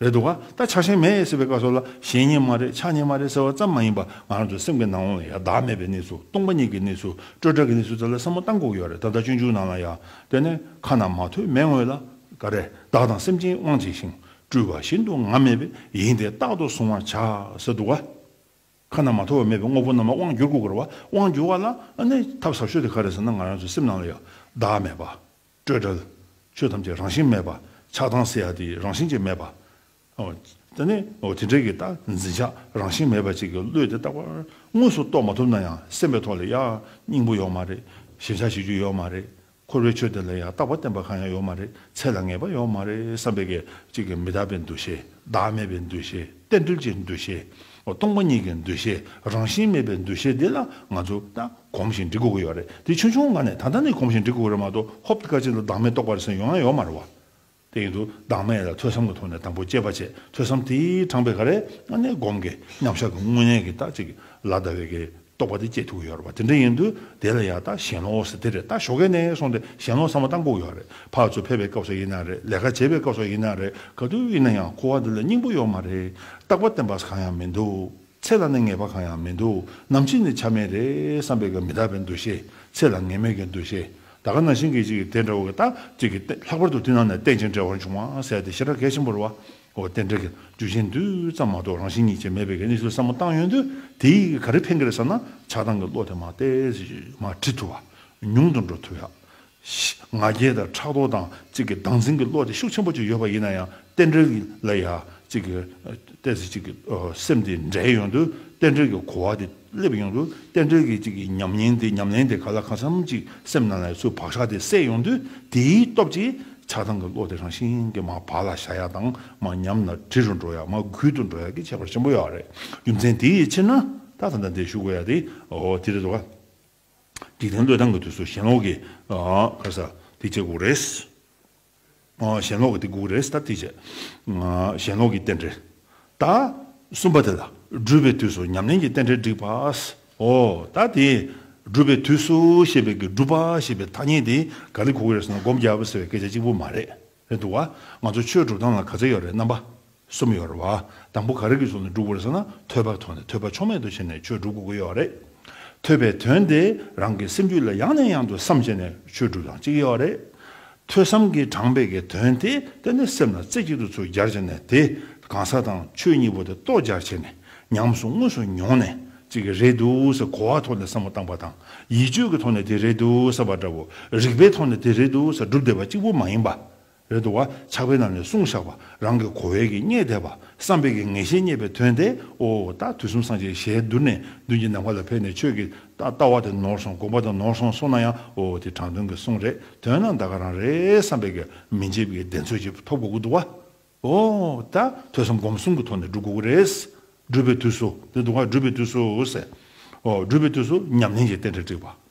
རེད་འདུག་ག་ད་ཆགས་ཞེན་མེད་ཟེར་བའི་བཀའ་སོགས་ལ་ཞེན་ཉེན་མ་རེད་ཆགས་ཉེན་མ་རེད་ཟེར་བ་ཙམ་མ་ཡིན་པ་ང་རང་ཚོའི་སེམས་ཀྱི་ནང་ལ་ཡང་བདག་མེད་པའི་གནས་ཚུལ་སྟོང་པ་ཉིད་ཀྱི་གནས་ཚུལ་སྤྲོས་བྲལ་གྱི་གནས་ཚུལ་དེ་ལ་བསམ་བློ་གཏང་དགོས་ཀྱི་རེད་ད་ལྟ་སྤྱོད་འཇུག་ནང་ལ་ཡང་དེ་ནས་ཁ་ན་མ་ཐོས་མེད་ངོས་ལ་ཀ་རས་བདག་དང་སེམས་ཅན་དབང་བྱས་ཤིང་སྤྲུལ་བ་བཞིན་དུ་ང་མེད་པའི་ཡིན་དེ་རྟག་ཏུ་གཟུང་བར་བྱ་ཟེར་འདུག་ག་ཁ་ན་མ་ཐོ་བ་མེད་པའི་དངོས་པོ་རྣམས་ལ་དབང་བསྒྱུར་དགོས་ཀྱི་རེད་དབང་བསྒྱུར་བ་ལ་ནས་ཐབས་ཟབ་ཤོས་དེ་ག་རེད་ཟེར་ན་ང་རང་ཚོའི་སེམས་ནང་ལ་ཡང་བདག་མེད་པ། སྤྲོས་བྲལ། ཆོས་ཐམས་ཅད་རང་བཞིན་མེད་པ། ཆགས་སྡང་སེ་ཡ་དེ་རང་བཞིན་གྱིས་མེད་པ། དེ་ནི་དེ་འབྲེལ་གྱི་རྟགས་འཛིན་ཆ་རང་བཞིན་མེད་པ་ཅིག་གིས་བློས་དེ་རྟག་པར་དངོས་སུ་རྟོགས་མ་ཐུབ་ན་ཡང་སེམས་པའི་ཐོག་ལ་ཡང་སྙིང་པོ་ཡོད་མ་རེད། ཞེན་ཆགས་བྱེད་རྒྱུ་ཡོད་མ་རེད། འཁོར་བའི་ཆོས་དེ་ལ་ཡང་རྟག་པར་བརྟེན་པ་གང་ཡང་ཡོད་མ་རེད། ཚད་ལ་ངེས་པ་ཡོད་མ་རེད་བསམ་པའི་གེགས་གཅིག་གིས་མི་རྟག་པའི་འདུ་ཤེས་བདག་མེད་པའི་འདུ་ཤེས། གཏན་འདུལ་གྱི་འདུ་ཤེས། སྟོང་པ་ཉིད་ཀྱི་འདུ་ཤེས་རང་བཞིན་མེད་པའི་འདུ་ཤེས་འདི་ལ་ང་ཚོ་ད་གོམས་ཤིང་འདྲི་དགོས་ཀྱི་ཡོད་རེད་དེ་ཆུང་ཆུང་ང་ནས་ད་ལྟ་ནས་གོམས་ཤིང་འདྲི་དགོས་ཀྱི་རེད་མ་གཏོགས་ཧོབ་ཀ་ཅིག་ལ་བདག་མེད་རྟོགས་པ་རེ་ཟུང་ཡོང་ཡང་ཡོང་མ་རུང་བ་དེ་ཡིན་དུས་བདག་མེད་ལ་ཐོས་བསམ་གྱི་ཐོག་ནས་དང་པོ་དཔྱད་པ་བྱས་ཐོས་བསམ་དེའི་དྲངས་པའི་ག་རེ་ང་ནས་སྒོམ་གྱི་མཉམ་བཞག་གི་དངོས་གནས་ཀྱི་རྟགས་ཅིག་ལ་ལྟ་བའི་གེགས། རྟོག་པ་དེ་སྐྱེད་ཐུག་ཡོད་རེད་བ་དེ་འདྲ་ཡིན་དུས་དེ་ལ་ཡག་ད་ཞེན་ལོག་ཟེར་དེ་རེད་ད་ཞོག་གེ་ནས་སོང་དེ་ཞེན་ལོག་ཟ་མ་ད་འགོག་ཡོད་རེད་ཕག་ཚོ་ཕེབས་པའི་སྐབས་སོགས་ཡིན་ན་རེད་ལས་ཀ་བྱེད་པའི་སྐབས་སོགས་ཡིན་ན་རེད་ག་དུས་ཡིན་ན་ཡང་ཁུ་བ་འདི་ལ་སྙིང་པོ་ཡོག་མ་རེད་རྟག་པ་བརྟན་པ་གང་ཡང་མི་འདུག་ཚེ་ལ་ནི་ངེས་པ་གང་ཡང་མི་འདུག་ནམ་ཕྱིན་ནི་ཆ་མེད་རེད་བསམ་པའི་གི་མི་དག་པའི་འདུ་ཤེས་ཚེ་ལ་ངེས་མེད་གི་འདུ་ཤེས་ད་ག་ན་བཞིན་གི་གཅིག་གི་དེ་འདྲ་བོ་གི་ད་གཅིག་གི་ལྷག་པར་དུ་དེ་ནང་ནས་བསྟན་ཅིང་འབྲེལ་བར་འབྱུང་བ་ཟེར་དེ་ཤི་ར་གས་ཆེན་པོ་རེད་བ། འོ་བསྟན་འགྲོ་གི་རྒྱུ་གཞན་དུས་ཙམ་མ་གཏོགས་རང་བཞིན་ཉིད་ཅན་མེད་པའི་གནས་ཚུལ་བསམ་བློ་བཏང་ཡོང་དུས་དེས་ག་རེ་ཕན་གི་རེད་བསམ་ན་ཆགས་སྡང་གི་བློ་དེ་མ་བལྟས་མ་དྲིས་ཐུབ་བ་ཉུང་དུ་འགྲོ་ཐུབ། ང་རྒྱལ་དང་ཕྲག་དོག་དང་གཅིག་གི་སྡང་ཟིང་གི་བློ་དེ་ཤུགས་ཆེན་པོ་གཅིག་ཡོད་པ་ཡིན་ན་ཡང་བསྟན་འགྲོ་གི་ལ་ཡང་གཅིག་གི་བལྟས་ཚེ་གཅིག་གི་སེམས་དེ་འདྲེས་ཡོང་དུས་བསྟན་འགྲོ་གི་གོ་བ་དེ། སླེབས་ཡོང་དུས་རྟེན་འབྲེལ་གྱི་གཅིག་གི་ཉམས་ཉེན་དེ་ཉམས་ལེན་དེ་ག་ལ་གང་འཚམ་གཅིག་སེམས་ནང་ལས་སུ་བག་ཆགས་དེ་སད་ཡོང་དུས་དེའི་སྟོབས་ཀྱིས་ཆགས་སྡང་གི་བློ་དེ་རང་བཞིན་གྱིས་མ་བག་ལ་བྱ་ཡག་དང་མ་ཉམས་ལ་གྲི་རུ་འགྲོ་ཡག་མ་གུད་དུ་འགྲོ་ཡག་གི་ཁྱད་པར་ཆེན་པོ་ཡོད་རེད་རྒྱུ་མཚན་དེའི་ཕྱིར་ན་ད་ད་ལྟ་འདིར་བཞུགས་དགོས་ཡག་དེ་འོ་དེ་རེད་དོ། འཇིག་རྟེན་བློས་བཏང་གི་དུས་སུ་ཞེན་ལོག་གིས་ཁ་ཟ་དེ་བྱེད་དགོས་རེད། ཞེན་ལོག་གི་དེ་དགུག་རེས་དང་དེ་བྱེད། ཞེན་ལོག་གི་རྟེན་འབྲེལ་ད་གསུམ་པ་དེ་ལ་སྦྲུལ་པའི་དུས་སུ་ཉམས་ལེན་གྱི་རྟེན་འབྲེལ་བསྒྲིགས་པ། ཨོ་ད་དེ་སྦྲུལ་པའི་དུས་སུ་ཞེས་པའི་གི་སྒྲུབ་པ་ཞེས་པའི་ཐ་སྙད་དེ་ག་ལི་གུག་རེས་ནས་སྒོམ་རྒྱབ་ཟེར་བའི་སྐད་ཆ་གཅིག་པུ་མ་རེད་འདུག་བ། ང་ཚོ་ཆོས་སྒྲུབ་སྟངས་ལ་ག་ཚོད་ཡོད་རེད་རྣམ་པ། གསུམ་ཡོད་རེད་བ། དང་པོ་ག་རེ་གི་གཟུགས་ནི་འགྲུབ་དགོས་རེད་ཟེར་ན་ཐོས་པར་མཐོང་ནས་ཐོས་པ་ཕྱོགས་མེད་དུ་བྱས་ནས་ཆོས་སྒྲུབ་དགོས་ཀྱི་ཡོད་རེད། ཐོས་པའི་དོན་དེ་རང་གི་སེམས་རྒྱུད་ལ་ཡང་ནས་ཡང་དུ་བསམ་བྱས་ནས་ཆོས་སྒྲུབ་དང་གཅིག་ཡོད་རེད། ཐོས་བསམ་གྱི་གྲངས་འཕེལ་གྱི་དོན་དེ་ཏན་ཏན་སེམས་ལ་རྩེ་གཅིག་ཏུ་ཚུར་སྦྱར་བྱས་ནས་དེ་གང་ཟག་དང་ཆོས་གཉིས་པོ་དེ་རྟོགས་སྦྱར་བྱས་ནས་ཉམས་སུ་དངོས་སུ་མྱོང་ནས་གཅིག་གི་རེད་འདུག་ཟེར་གོ་བ་ཐོག་ནས་བསམ་བློ་བཏང་བ་དང་ཡིད་དཔྱོད་ཀྱི་ཐོག་ནས་དེ་རེད་འདུག་ཟེར་བ་འདྲ་བོ་རིག་པའི་ཐོག་ནས་དེ་རེད་འདུག་ཟེར་སྒྲུབ་བསྡད་པ་གཅིག་པུ་མ་ཡིན་པ། རེ་དོ། ཆགས་པའི་ནང་ནས་གསུང་བཞག་པ་རང་གི་གོ་བས་ཀྱིས་རྙེད་དད་པ་བསམ་པས་ཀྱིས་ངེས་ཤེས་རྙེད་པའི་དོན་དེའོ། རྟགས་དུས་གསུམ་སངས་རྒྱས་ཞལ་བསྡུར་ནས་མདུན་གྱི་ནམ་མཁའ་ལ་ཕེབས་ནས་ཆོས་ཀྱི་ལྟ་བ་དེ་ནོར་སོང་དགོངས་པ་དེ་ནོར་སོང་སོང་ན་ཡང་འོ་དེ་དྲང་དོན་གྱི་གསུང་རེད་དོན་ན་འདའ་ག་རང་རེད་བསམ་པས་ཀྱིས་མི་འཇེབས་ཀྱིས་བདེན་འཚོལ་ཅིག་ཐོབ་དགོས་ཀྱི་འདུག་བ། འོ། ད་ཐོས་བསམ་སྒོམ་གསུམ་གྱི་ཐོག་ནས་བསྒྲུབ་དགོས་ཀྱི་རེད། སྒྲུབ་པའི་དུས་སུ། འདི་འདུག་བ་སྒྲུབ་པའི་དུས་སུ། སྒྲུབ་པའི་དུས་སུ་ཉམས་ལེན་གྱི་རྟེན་འབྲེལ་དཀྲིགས་པ།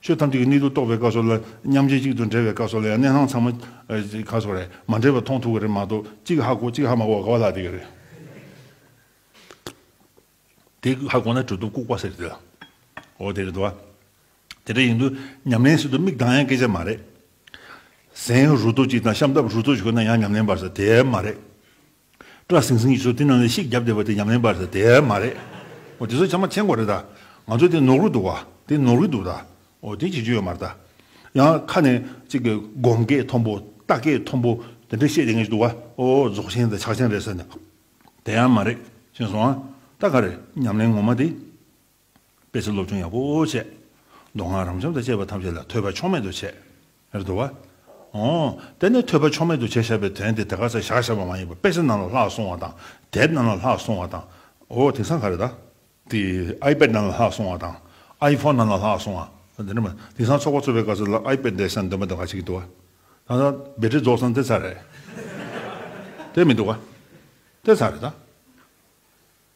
ཆོས་ཐམས་ཅད་ཀྱི་གནད་དུ་གཏོགས་པའི་སྐབས་སོགས་ལ་མཉམ་རྗེས་གཅིག་ཏུ་འབྲེལ་བའི་སྐབས་སོགས་ལ་ཡང་གནད་གནང་ཚང་མ་ག་སོགས་རེད་མ་འབྲེལ་བ་མཐོང་ཐུབ་ཀྱི་རེད་མ་གཏོགས་གཅིག་ཧ་གོ་གཅིག་ཧ་མ་གོ་བ་ག་བ་ལ་དེ་ག་རེད། དེ་ཧ་གོ་ན་གྲོད་དུ་ལྐུགས་པ་ཟེར་དེ་ཨོ་དེ་རེད་དོ། དེ་འདྲ་ཡིན་དུས་ཉམས་ལེན་བྱེད་དུ་མིག་གདངས་ཡང་སྐད་ཆ་མ་རེད། གཟན་རུ་ཏོ་གཅིག་དང་ཤམ་ཐབས་རུ་ཏོ་གཅིག་ཁོ་ན་ཡང་ཉམས་ལེན་པར་ཟེར་དེ་མ་རེད། སྐྲ་ཟིང་ཟིང་གི་ཚོ་དེ་རྣམས་ལ་ཤིག་བརྒྱབ་བསྡད་པ་དེ་ཉམས་ལེན་པར་དེ་མ་རེད། འོ་དེ་ཚོ་ཆ་མ་མཆན་གོ་རེད་ད། ང་ཚོ་དེ་ནོག་རུ་འདུག་བ་དེ་ནོག་རི་འདུག་ད། འོ་དེ་ཅི་ཅི་ཡོད་མ་རེད་ད། ཡང་ཁ་ནས་ཅིག་གི་སྒོམ་སྐད་མཐོན་པོ་ལྟ་སྐད་མཐོན་པོ་དེ་འདྲ་བཤད་བསྡད་མཁན་ཞིག་འདུག་བ། ཨོ་རྫོགས་ཆེན་དང་ཕྱག་ཆེན་རེད་ཟེར་ནས། དེ་ཡང་མ་རེད། ཤེས་སོང་ཨ། ད་ག་རེད་ཉམས་ལེན་ངོ་མ་དེ། དཔེ་ཆ་སློབ་སྦྱོང་ཡག་པོ་བྱས། མདོ་སྔགས་རང་བྱམས་དང་བཅས་པ་ཐམས་ཅད་ལ་ཐོས་པ་ཕྱོགས་མེད་དུ་བྱས། རེད་དོ། འོ། དེ་ནས་ཐོས་པ་ཕྱོགས་མེད་དུ་བྱས་བྱས་པའི་དོན་དེ་དེ་ག་ཚད་བཞག་བཞག་པ་མ་ཡིན་པར་དཔེ་ཆ་ནང་ལ་ལྷག་སོང་བ་དང་དེབ་ནང་ལ་ལྷག་སོང་བ་དང། འོ་དེང་སང་ག་རེད་ད། དེ iPad ནང་ལ་ལྷག་སོང་བ་དང། iPhone ནང་ལ་ལྷག་སོང་བ། དེ་འདྲ་མ། དེང་སང་ཚོགས་པ་ཚོགས་པའི་སྐབས་སུ་ལ iPad འདེགས་སའི་འདོན་པ་འདི་ག་ཅིག་གི་འདུག་ཨ། ད་ལྟ་བེ་ཏྲི་རྫོགས་སང་དེ་ཚར་རེད། དེ་མི་འདུག་ཨ། དེ་ཚར་རེད་ད།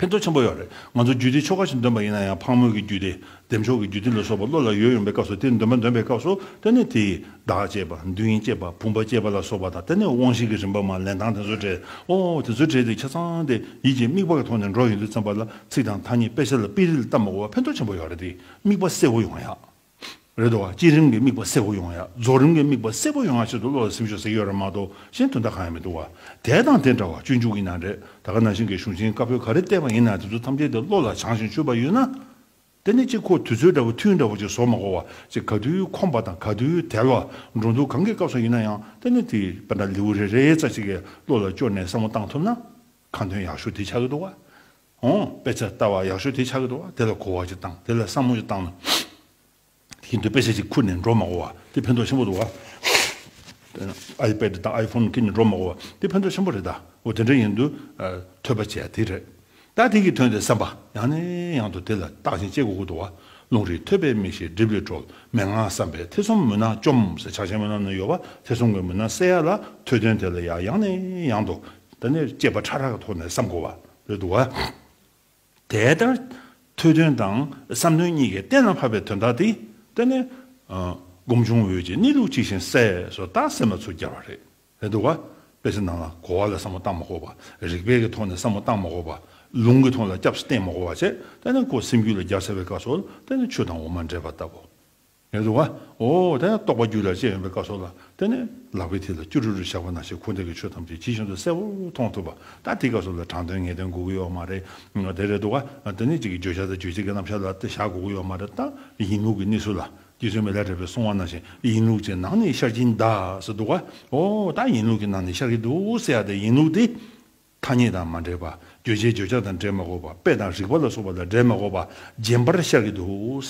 ཕན་ཐོགས་ཆེན་པོ་ཡོད་རེད། ང་ཚོ་རྒྱུད་སྡེའི་ཆོ་ག་ཞིག་འདོན་པ་ཡིན་ན་ཡང་ཕག་མོ་གི་རྒྱུད་སྡེ། ལྡེམ་ཆོག་གི་རྒྱུད་སྡེ་ལ་སོགས་པ་བློ་ལ་ཡོད་ཡོང་པའི་སྐབས་སུ་དེ་འདོན་པ་འདོན་པའི་སྐབས་སུ་ལྟེ་གནས་དེ་ཡིས་བདག་བསྐྱེད་པ་འདུན་བསྐྱེད་པ་བུམ་པ་བསྐྱེད་པ་ལ་སོགས་པ་དང་ལྟེ་གནས་དབང་བཞི་གི་རིམ་པ་མ་ལན་དང་དེ་ཚོ་བྲལ་ཨོ་དེ་ཚོ་བྲལ་ཏེ་ཆ་ཚང་དེ་ཡིད་ཀྱི་དམིགས་པ་གི་ཐོག་ནས་འགྲོ་ཡོང་དུས་བརྩམས་པ་ལ་ཚིག་དང་ཐ་སྙད་དཔེ་ཆ་ལ་དཔེ་རིས་ལྟ་མི་དགོས་པ་ཕན་ཐོགས་ཆེན་པོ་ཡོད་རེད་དེ་དམིགས་པ་གསལ་བོ་ཡོང་ཡག། རེད་དོ། བསྐྱེད་རིམ་གྱི་དམིགས་པ་གསལ་བོ་ཡོང་ཡ། རྫོགས་རིམ་གྱི་དམིགས་པ་གསལ་བོ་ཡོང་ཡ་ཆེད་དུ་བློ་ལ་སེམས་ཤོག་ཟེར་གྱི་ཡོད་རེད་མ་གཏོགས་གཞན་དོན་དག་གང་ཡང་མི་འདུག་བ། དེ་དང་དེ་འདྲ་བ་སྤྱོད་འཇུག་གི་ན་རེ། ད་ག་ནང་བཞིན་གྱི་གཞུང་ཆེན་དཀར་པོའི་ག་རེ་བལྟས་པ་ཡིན་ན་དེ་ཚོ་ཐམས་ཅད་དེ་བློ་ལ་བྱང་ཞིང་ཆུད་པ་ཡོད་ན། དེ་ནི་གཅིག་ཁོ་དུས་ཚོད་འདྲ་བོ་ཐུན་འདྲ་བོ་གཅིག་ཟོར་མ་གོ་བ་གཅིག་ག་དུས་ཁོམ་པ་དང་ག་དུས་དལ་བ་འགྲོ་འདུག་གང་གི་སྐབས་སུ་ཡིན་ན་ཡང་དེ་ནི་དེ་པ་འདྲ་ལེའུ་རེ་རེའི་རྩ་གཅིག་གི་བློ་ལ་བཅོལ་ནས་བསམ་བློ་བཏང་ཐུབ་ན། ཁ་འདོན་ཡག་ཤོས་དེ་ཆགས་ཀྱི་འདུག་བ། ཧོ། དཔེ་ཆ་ལྟ་བ་ཡག་ཤོས་དེ་ཆགས་ཀྱི་འདུག་བ། དེ་ལ་གོ་བ་ཅིག་བཏང་དེ་ལ་བསམ་བློ་ཅིག་བཏང་ན། དེ་བཞིན་དུ་དཔེ་ཆ་ཅིག་ཁུར་ནས་འགྲོ་མ་གོ་བ་དེ་ཕན་ཐོགས་ཆེན་པོ་འདུག་བ། iPad དང iPhone ཁྱེར་ནས་འགྲོ་མ་གོ་བ་དེ་ཕན་ཐོགས་ཆེན་པོ་རེད་ད། འོ་དེ་འདྲ་ཡིན་དུས། ཐོས་པ་བྱས་དེ་རེད། ད་དེ་གྱིས་དོན་དེ་བསམ་པ་ཡང་ནས་ཡང་དུ་དེ་ལ་བརྟག་ཅིང་དཔྱད་གོ་དགོས་འདུག་བ། ལུང་རིགས་ཐོས་པའི་མིག་ཤེས་སྒྲིབ་ལས་གྲོལ་མན་ངག་བསམ་པའི་ཐེ་ཚོམ་མུན་ནག་བཅོམ་ཟེར་ཆགས་ཆེན་པོ་རྣམས་ནས་ཡོད་བ་ཐེ་ཚོམ་གྱི་མུན་ནག་བསལ་ཡག་ལ་ཐོས་དོན་དེ་ལ་ཡང་ནས་ཡང་དུ་འདི་ནི་སྐྱེས་པ་ཕྲ་རགས་ཀྱི་ཐོག་ནས་བསམ་དགོས་པ་རེད་འདུག་ག། དེ་ལྟར་ཐོས་དོན་དང་བསམ་དོན་གཉིས་ཀས་གཏན་ལ་ཕབ་པའི་དོན་དག་འདི་དེ་ནི། སྒོམ་བྱུང་འོད་ཀྱི་གནས་ལུགས་གཅིག་བཞིན་གསལ་སོ་ལྟ་སེམས་ལ་ཚུར་གྱར་བ་རེད་འདུག་ག། དཔེ་ཚིག་ནང་ལ་གོ་བ་ལ་བསམ་བློ་བཏང་མ་གོ་བ། རིགས་པས་ཀྱི་ཐོག་ནས་བསམ་བློ་བཏང་མ་གོ་བ། ལུང་གི་ཐོག་ལ་སྐྱབས་སུ་བསྟེན་མ་གོ་བ་བཅས་དེ་ནི་ཀོ་སེམས་རྒྱུད་ལ་རྒྱ་བསལ་བའི་སྐབས་སོ་ལྟ་ནི་ཆུ་དང་འོ་མ་འདྲེས་པ་ལྟ་བུ། ངེས་འདུག་ཨ། འོ། དེ་ནས་རྟོགས་པ་རྒྱུད་ལ་བཅས་ཡོང་པའི་སྐབས་སོགས་ལ་བརྟེན་ནས་ལག་པའི་མཐིལ་ལ་ཅུ་རུ་རུ་བཞག་པ་ན་ཆེས་འཁོར་འདས་ཀྱི་ཆོས་ཐམས་ཅད་ཇི་བཞིན་དུ་གསལ་བོར་མཐོང་ཐུབ་པ་ད་དེའི་སྐབས་སོགས་ལ་དྲང་དོན་ངེས་དོན་གོ་གི་ཡོད་མ་རེད་དེ་རེད་འདུག་ཨ། དེ་ནས་གཅིག་གི་བརྗོད་བྱ་དང་རྗོད་བྱེད་ཀྱི་རྣམ་གཞག་ལ་བལྟ་བཞག་གོ་གི་ཡོད་མ་རེད་ད། ཡིན་ལུགས་ཀྱི་གནས་ཚུལ་ལ་རྗེ་བཙུན་མི་ལ་དྲེགས་པས་གསུང་བ་ནང་བཞིན་ཡིན་ལུགས་ཀྱི་ནང་ནས་ཤར་གྱིན་གདའ་ཟེར་འདུག་ཨ། འོ། ད་ཡིན་ལུགས་ཀྱི་ནང་ནས་ཤར་གྱི་འདུག་ཟེར་ཡ་ད་ཡིན་ལུགས་དེ། ཐ་སྙད་དང་མ་འདྲེས་པ། བརྗོད་བྱའི་བརྗོད་བྱ་དང་འབྲེལ་མ་གོ་བ། དཔེ་དང་རིགས་པ་ལ་སོགས་པ་དང་འབྲེལ་མ་གོ་བ། རྗེན་པར་ཤར་གྱི་འདུག།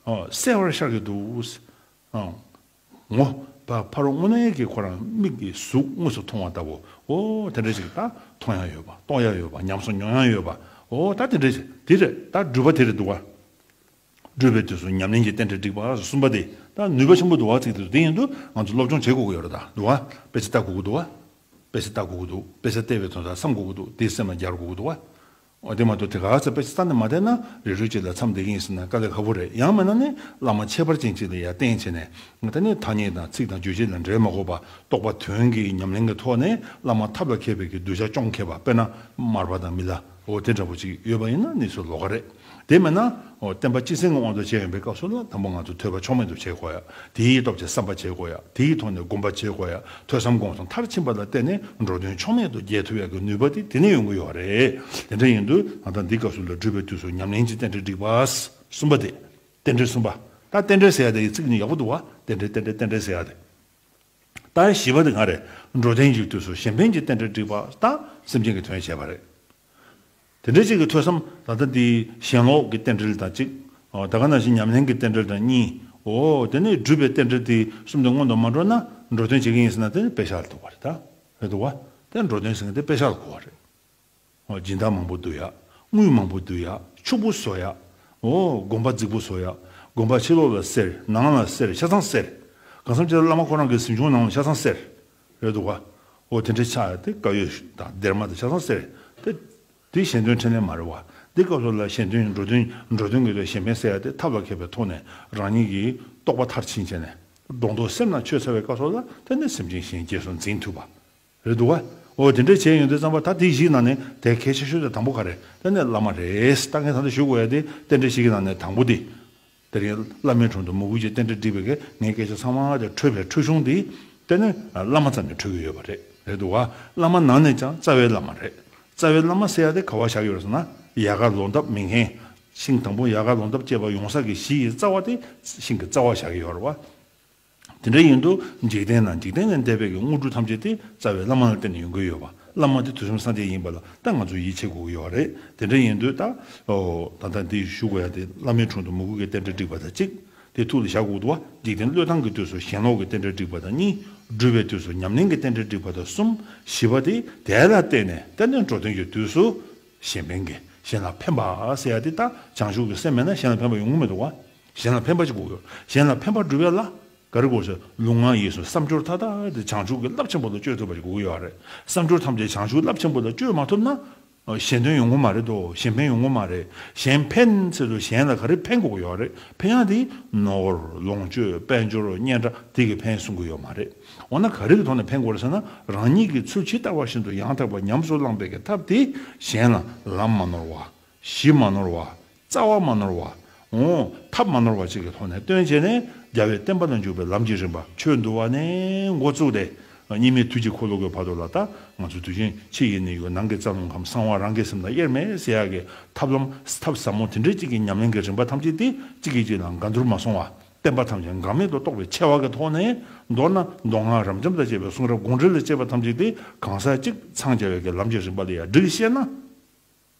གསལ་བར་ཤར་གྱི་འདུག། ངོ། ཕ་རོལ་དངོས་གནས་ཀྱི་ཁོ་རང་མིག་གིས་གཟུགས་དངོས་སུ་མཐོང་བ་ལྟ་བུ། འོ། དེ་འདྲ་ཞིག་ད་མཐོང་ཡང་ཡོད་པ། རྟོགས་ཡང་ཡོད་པ། ཉམས་སུ་མྱོང་ཡང་ཡོད་པ། འོ། ད་དེ་འདྲ་ཞིག་དེ་རེད། ད་འགྲུལ་པ་དེ་རེད་འདུག་ག། སྒྲུབ་པའི་དུས་སུ་ཉམས་ལེན་གྱི་རྟེན་འབྲེལ་འགྲིག་པ་གསུམ་པ་དེ་དང་ནུས་པ་ཆེན་པོ་འདུག་བ་ཚིག་དེ་ཚོ་དེ་ཡིན་དུས་ང་ཚོ་སློབ་སྦྱོང་བྱེད་དགོས་ཀྱི་ཡོད་རེད་དཱ་འདུག་བ་དཔེ་ཆ་ལྟ་དགོས་ཀྱི་འདུག་བ་དཔེ་ཆ་ལྟ་དགོས་ཀྱི་འདུག་དཔེ་ཆ་ལྟས་པའི་དོན་དག་བསམ་དགོས་ཀྱི་འདུག་དེའི་སེམས་ལ་སྦྱར་དགོས་ཀྱི་འདུག་བ། འོ་དེ་མ་གཏོགས་དེ་ག་ཚོད་དཔེ་ཆ་ལྟ་ནས་མ་བསྡད་ན་རེ་རུས་གཅིག་ལ་མཚམས་འདེགས་ཀྱིན་ཟིན་ན་དཀའ་ལས་ཁ་པོ་རེད་ཡང་མེད་ན་ནི་བླ་མ་ཁྱད་པར་ཅན་གཅིག་ལ་ཡར་བསྟན་བྱས་ནས་ང་ད་ནི་ཐ་སྙད་དང་ཚིག་དང་བརྗོད་བྱེད་ལ་འབྲེལ་མ་དགོས་པ་རྟོགས་པ་དོན་གྱི་ཉམས་ལེན་གྱི་ཐོག་ནས་བླ་མ་ཐབས་ལ་མཁས་པའི་གྱི་གདུལ་བྱ་སྐྱོང་མཁས་པ་དཔེར་ན་མར་པ་དང་མི་ལ། འོ་དེ་འདྲ་བོ་ཅིག་ཡོད་པ་ཡིན་ན་ནི་སུ་ལོ་ག་རེད། དེ་མེད་ན། བསྟན་པ་སྤྱི་སེང་གི་དབང་དུ་བྱས་ཡོང་པའི་སྐབས་སུ་ལ་དང་པོ་ང་ཚོ་ཐོས་པ་ཕྱོགས་མེད་དུ་བྱེད་དགོས་ཡ། དེའི་སྟོབས་ཀྱིས་བསམ་པ་བྱེད་དགོས་ཡ། དེའི་ཐོག་ནས་སྒོམ་པ་བྱེད་དགོས་ཡ། ཐོས་བསམ་སྒོམ་གསུམ་མཐར་ཕྱིན་པ་ལ་བརྟེན་ནས་འགྲོ་དོན་ཕྱོགས་མེད་དུ་རྒྱལ་ཐུབ་ཡ་གི་ནུས་པ་དེ་དེ་ནས་ཡོང་གི་ཡོད་རེད། དེ་འདྲ་ཡིན་དུས་ང་ད་འདི་སྐབས་སུ་ལ་སྒྲུབ་པའི་དུས་སུ་ཉམས་ལེན་གྱི་རྟེན་འབྲེལ་སྒྲིག་པ། གསུམ་པ་དེ། རྟེན་འབྲེལ་གསུམ་པ། ད་རྟེན་འབྲེལ་ཟེར་ཡ་དེ་ཡི་ཚིག་ནི་ཡག་པོ་འདུག་བ། རྟེན་འབྲེལ་རྟེན་འབྲེལ་རྟེན་འབྲེལ་ཟེར་ཡ་དེ། རྟགས་བཞི་པ་དེ་གང་རེད། འགྲོ་ལྡན་འཇུག་དུས་སུ་གཞན་ཕན་གྱི་རྟེན་འབྲེལ་འགྲིག་པ་དང་སེམས་ཅན་གྱི་དོན་བྱས་པ་རེད། དེ་འདྲའི་གཅིག་གི་ཐོས་བསམ་ད་ལྟ་འདིའི་ཞེན་ལོག་གི་རྟེན་འབྲེལ་དང་གཅིག། ད་ག་ན་བཞིན་ཉམས་ལེན་གྱི་རྟེན་འབྲེལ་དང་གཉིས། འོ་དེ་ནས་སྒྲུབ་པའི་རྟེན་འབྲེལ་དེ་གསུམ་དེ་སྔོན་དུ་མ་འགྲོ་ན་འགྲོ་དོན་བྱེད་མཁན་ཡིན་ཟེར་ན་དེ་ནི་དཔེ་ཆ་ལ་ཐུག་པ་རེད། རེད་འདུག་བ། དེ་འགྲོ་དོན་ཟེར་མཁན་དེ་དཔེ་ཆ་ལ་གོ་བ་རེད། སྦྱིན་བདག་མང་པོ་འདུ་ཡག། དངུལ་མང་པོ་འདུ་ཡག། ཕྱུག་པོ་བཟོ་ཡག། འོ། དགོན་པ་རྫིག་པོ་བཟོ་ཡག། དགོན་པ་ཕྱི་ལོགས་ལ་སེར། ནང་ལ་སེར། ཆ་ཚང་སེར། གང་བསམ་ཅི་ལ་བླ་མ་ཁོ་རང་གི་གཟིམ་ཆུང་ནང་ལ་ཆ་ཚང་སེར། རེད་འདུག་ག། འོ་དེ་འདྲའི་ཆ་དེ་ཀ་ཡོད་དང་སྡེར་མ་དང་ཆ་ཚང་སེར། དེ། དེ་གཞན་དོན་འཕྲིན་ལས་མ་རེད་བ། འདི་སྐབས་སུ་ལ་གཞན་དོན་འགྲོ་དོན་འགྲོ་དོན་གྱི་ལས་གཞན་ཕན་སེལ་ཡག་དེ་ཐབས་ལ་མཁས་པའི་ཐོག་ནས་རང་ཉིད་ཀྱི་རྟོགས་པ་མཐར་ཕྱིན་བྱས་ནས། སྒྲོ་འདོགས་སེམས་ལ་ཆོད་ཚར་བའི་སྐབས་སོགས་ལ་བརྟེན་ནས་སེམས་ཅན་གཞན་སྐྱེས་སུ་འཛིན་ཐུབ་པ། རེད་འདུག་ག། འོ་དེ་འདྲ་བྱས་ཡོང་དུས་ཙམ་པ་ད་དེ་བཞིའི་ནང་ནས་དེ་གལ་ཆེ་ཤོས་དེ་དང་པོ་ག་རེད་ད་ནི་བླ་མ་རེད་ད་ངས་ད་ལྟ་ཞུ་དགོས་ཡ་དེ་རྟེན་འབྲེལ་ཞིག་གི་ནང་ནས་དང་པོ་དེ། དེ་རིང་བླ་མའི་དྲུང་དུ་མོ་གུས་ཀྱི་རྟེན་འབྲེལ་བསྒྲིགས་པའི་གས་ངའི་སྐད་ཆ་ཚང་མ་དེ་འཕྲོས་པའི་འཕྲོས་གཞུང་དེ། དེ་ནི་བླ་མ་ཙམ་གྱིས་འཕྲོས་ཀྱི་ཡོད་པ་རེད་རེད་འདུག་ག་བླ་མ་ནང་ནས་ཀྱང་རྩ་བའི་བླ་མ་རེད། རྩ་བའི་བླ་མ་ཟེར་ཡ་དེ་ག་བ་བཞག་ཡོད་རེད་ཟེར་ན་ཡལ་ག་ལོང་འདབ་མི་ངན། ཤིང་དང་པོ་ཡལ་ག་ལོང་འདབ་སྐྱེས་པ་ཡོང་ས་ཀྱི་གཞི་ཡི་རྩ་བ་དེ་ཤིང་གི་རྩ་བ་བཞག་ཡོད་རེད་བ། དེ་འདྲ་ཡིན་དུ་འཇིག་རྟེན་ན་འཇིག་རྟེན་ལས་འདས་པའི་གི་དངོས་གྲུབ་ཐམས་ཅད་དེ་རྩ་བའི་བླ་མ་ལ་བརྟེན་ནས་ཡོང་གི་ཡོད་པ་བླ་མ་དེ་དུས་གསུམ་སངས་རྒྱས་ཡིན་པ་ལ་ད་ང་ཚོས་ཡིད་ཆེས་དགོས་ཀྱི་ཡོད་རེད་དེ་འདྲ་ཡིན་དུས་ད་ད་ལྟ་འདི་ཞུ་དགོས་ཡ་དེ་བླ་མའི་དྲུང་དུ་མུ་གུ་གེ་རྟེན་འབྲེལ་བསྒྲིགས་པ་དང་གཅིག་དེ་ཐུགས་ལ་བཞག་གོ་ལྟུང་བ་འཇིག་རྟེན་བློས་བཏང་གི་དུས་སུ་ཞེན་ལོག་གི་རྟེན་འབྲེལ་བསྒྲིགས་པ་དང་གཉིས་སྦྲུལ་བའི་དུས་སུ་ཉམས་ལེན་གྱི་རྟེན་འབྲེལ་བསྒྲིགས་པ་དང་གསུམ་བཞི་པ་དེ་དེ་ལ་བརྟེན་ནས་རྟེན་འབྲེལ་འགྲོ་དོན་གྱི་དུས་སུ་གཞན་ཕན་གྱི་གཞན་ལ་ཕན་པ་ཟེར་ཡ་དེ་ད་བྱང་ཆུབ་ཀྱི་སེམས་མེད་ན་གཞན་ལ་ཕན་པ་ཡོང་གི་མི་འདུག་བ། གཞན་ལ་ཕན་པ་གཅིག་གོ་གྱུར། གཞན་ལ་ཕན་པ་སྒྲུབ་ཡ་ལ། ག་རེ་གོ་གྱུར། ལུང་ང་ཡིས་སུ་བསམ་སྦྱོར་མཐའ་དག་དེ་བྱང་ཆུབ་ཀྱི་རླབས་ཆེན་པོ་ལ་བཅོལ་ཐུབ་པ་གཅིག་གོ་གྱུར་བ་རེད། བསམ་སྦྱོར་ཐམས་ཅད་བྱང་ཆུབ་རླབས་ཆེན་པོ་ལ་བཅོལ་མ་ཐུབ་ན། གཞན་དོན་ཡོང་གི་མ་རེད་དོ། གཞན་ཕན་ཡོང་གི་མ་རེད། གཞན་ཕན་ཚེ་སུ་གཞན་ལ་ག་རེ་ཕན་གོ་གྱུར་བ་རེད། ཕན་ཡང་དེ། ནོར། ལོངས་སྤྱོད། དཔལ་འབྱོར། སྙན་གྲགས་དེ་གི་ཕན་གསུང་གི་ཡོད་མ་རེད། འོ་ན་ག་རེ་གི་ཐོག་ནས་ཕན་གོ་རེད་ཟེར་ན། རང་ཉིད་ཀྱི་ཚུལ་ཇི་ལྟ་བ་བཞིན་དུ་ཡང་དག་པར་ཉམས་སུ་བླངས་པའི་གི་ཐབས་དེས་གཞན་ལ། ལམ་མ་ནོར་བ། གཞི་མ་ནོར་བ། རྩ་བ་མ་ནོར་བ། འོང། ཐབས་མ་ནོར་བ་བཅས་ཀྱི་ཐོག་ནས་སྟོན་བྱས་ནས་རྒྱལ་བའི་བསྟན་པ་ན་འཇུག་པའི་ལམ་གྱི་རིམ་པ་ཆོས་འདུལ་བ་ནས་འགོ་བཙུགས་ཏེ་སྙིགས་མའི་དུས་ཀྱི་འཁོར་ལོ་བསྐོར་བར་དུ་ལ་ད་ང་ཚོ་དུས་ཆེན་ཕྱི་ཡི་ནི་ཡོད་ནང་གི་རྩ་རླུང་ཁམས་གསང་བ་རང་གི་སེམས་དང་དབྱེར་མེད་བསྲེ་ཡག་གི་ཐབས་ལམ་ཐབས་ཟབ་མོ་དེ་འདྲའི་གཅིག་གི་ཉམས་ལེན་གྱི་རིམ་པ་ཐམས་ཅད་དེ་གཅིག་གིས་གཅིག་ལ་འགལ་འདུར་མ་སོང་བར་བསྟན་པ་ཐམས་ཅད་འགག་མེད་དུ་རྟོགས་པའི་ཆེ་བ་གྱི་ཐོག་ནས་མདོར་ན་མདོ་སྔགས་རབ་འབྱམས་དང་བཅས་པའི་གསུང་རབ་དགོངས་འགྲེལ་ལ་དཔྱད་པ་ཐམས་ཅད་དེ་གང་ཟག་གཅིག་འཚང་རྒྱ་བའི་གྱི་ལམ་གྱི་རིམ་པ་ལ་ཡང་བསྒྲིགས་ཤེ་ན།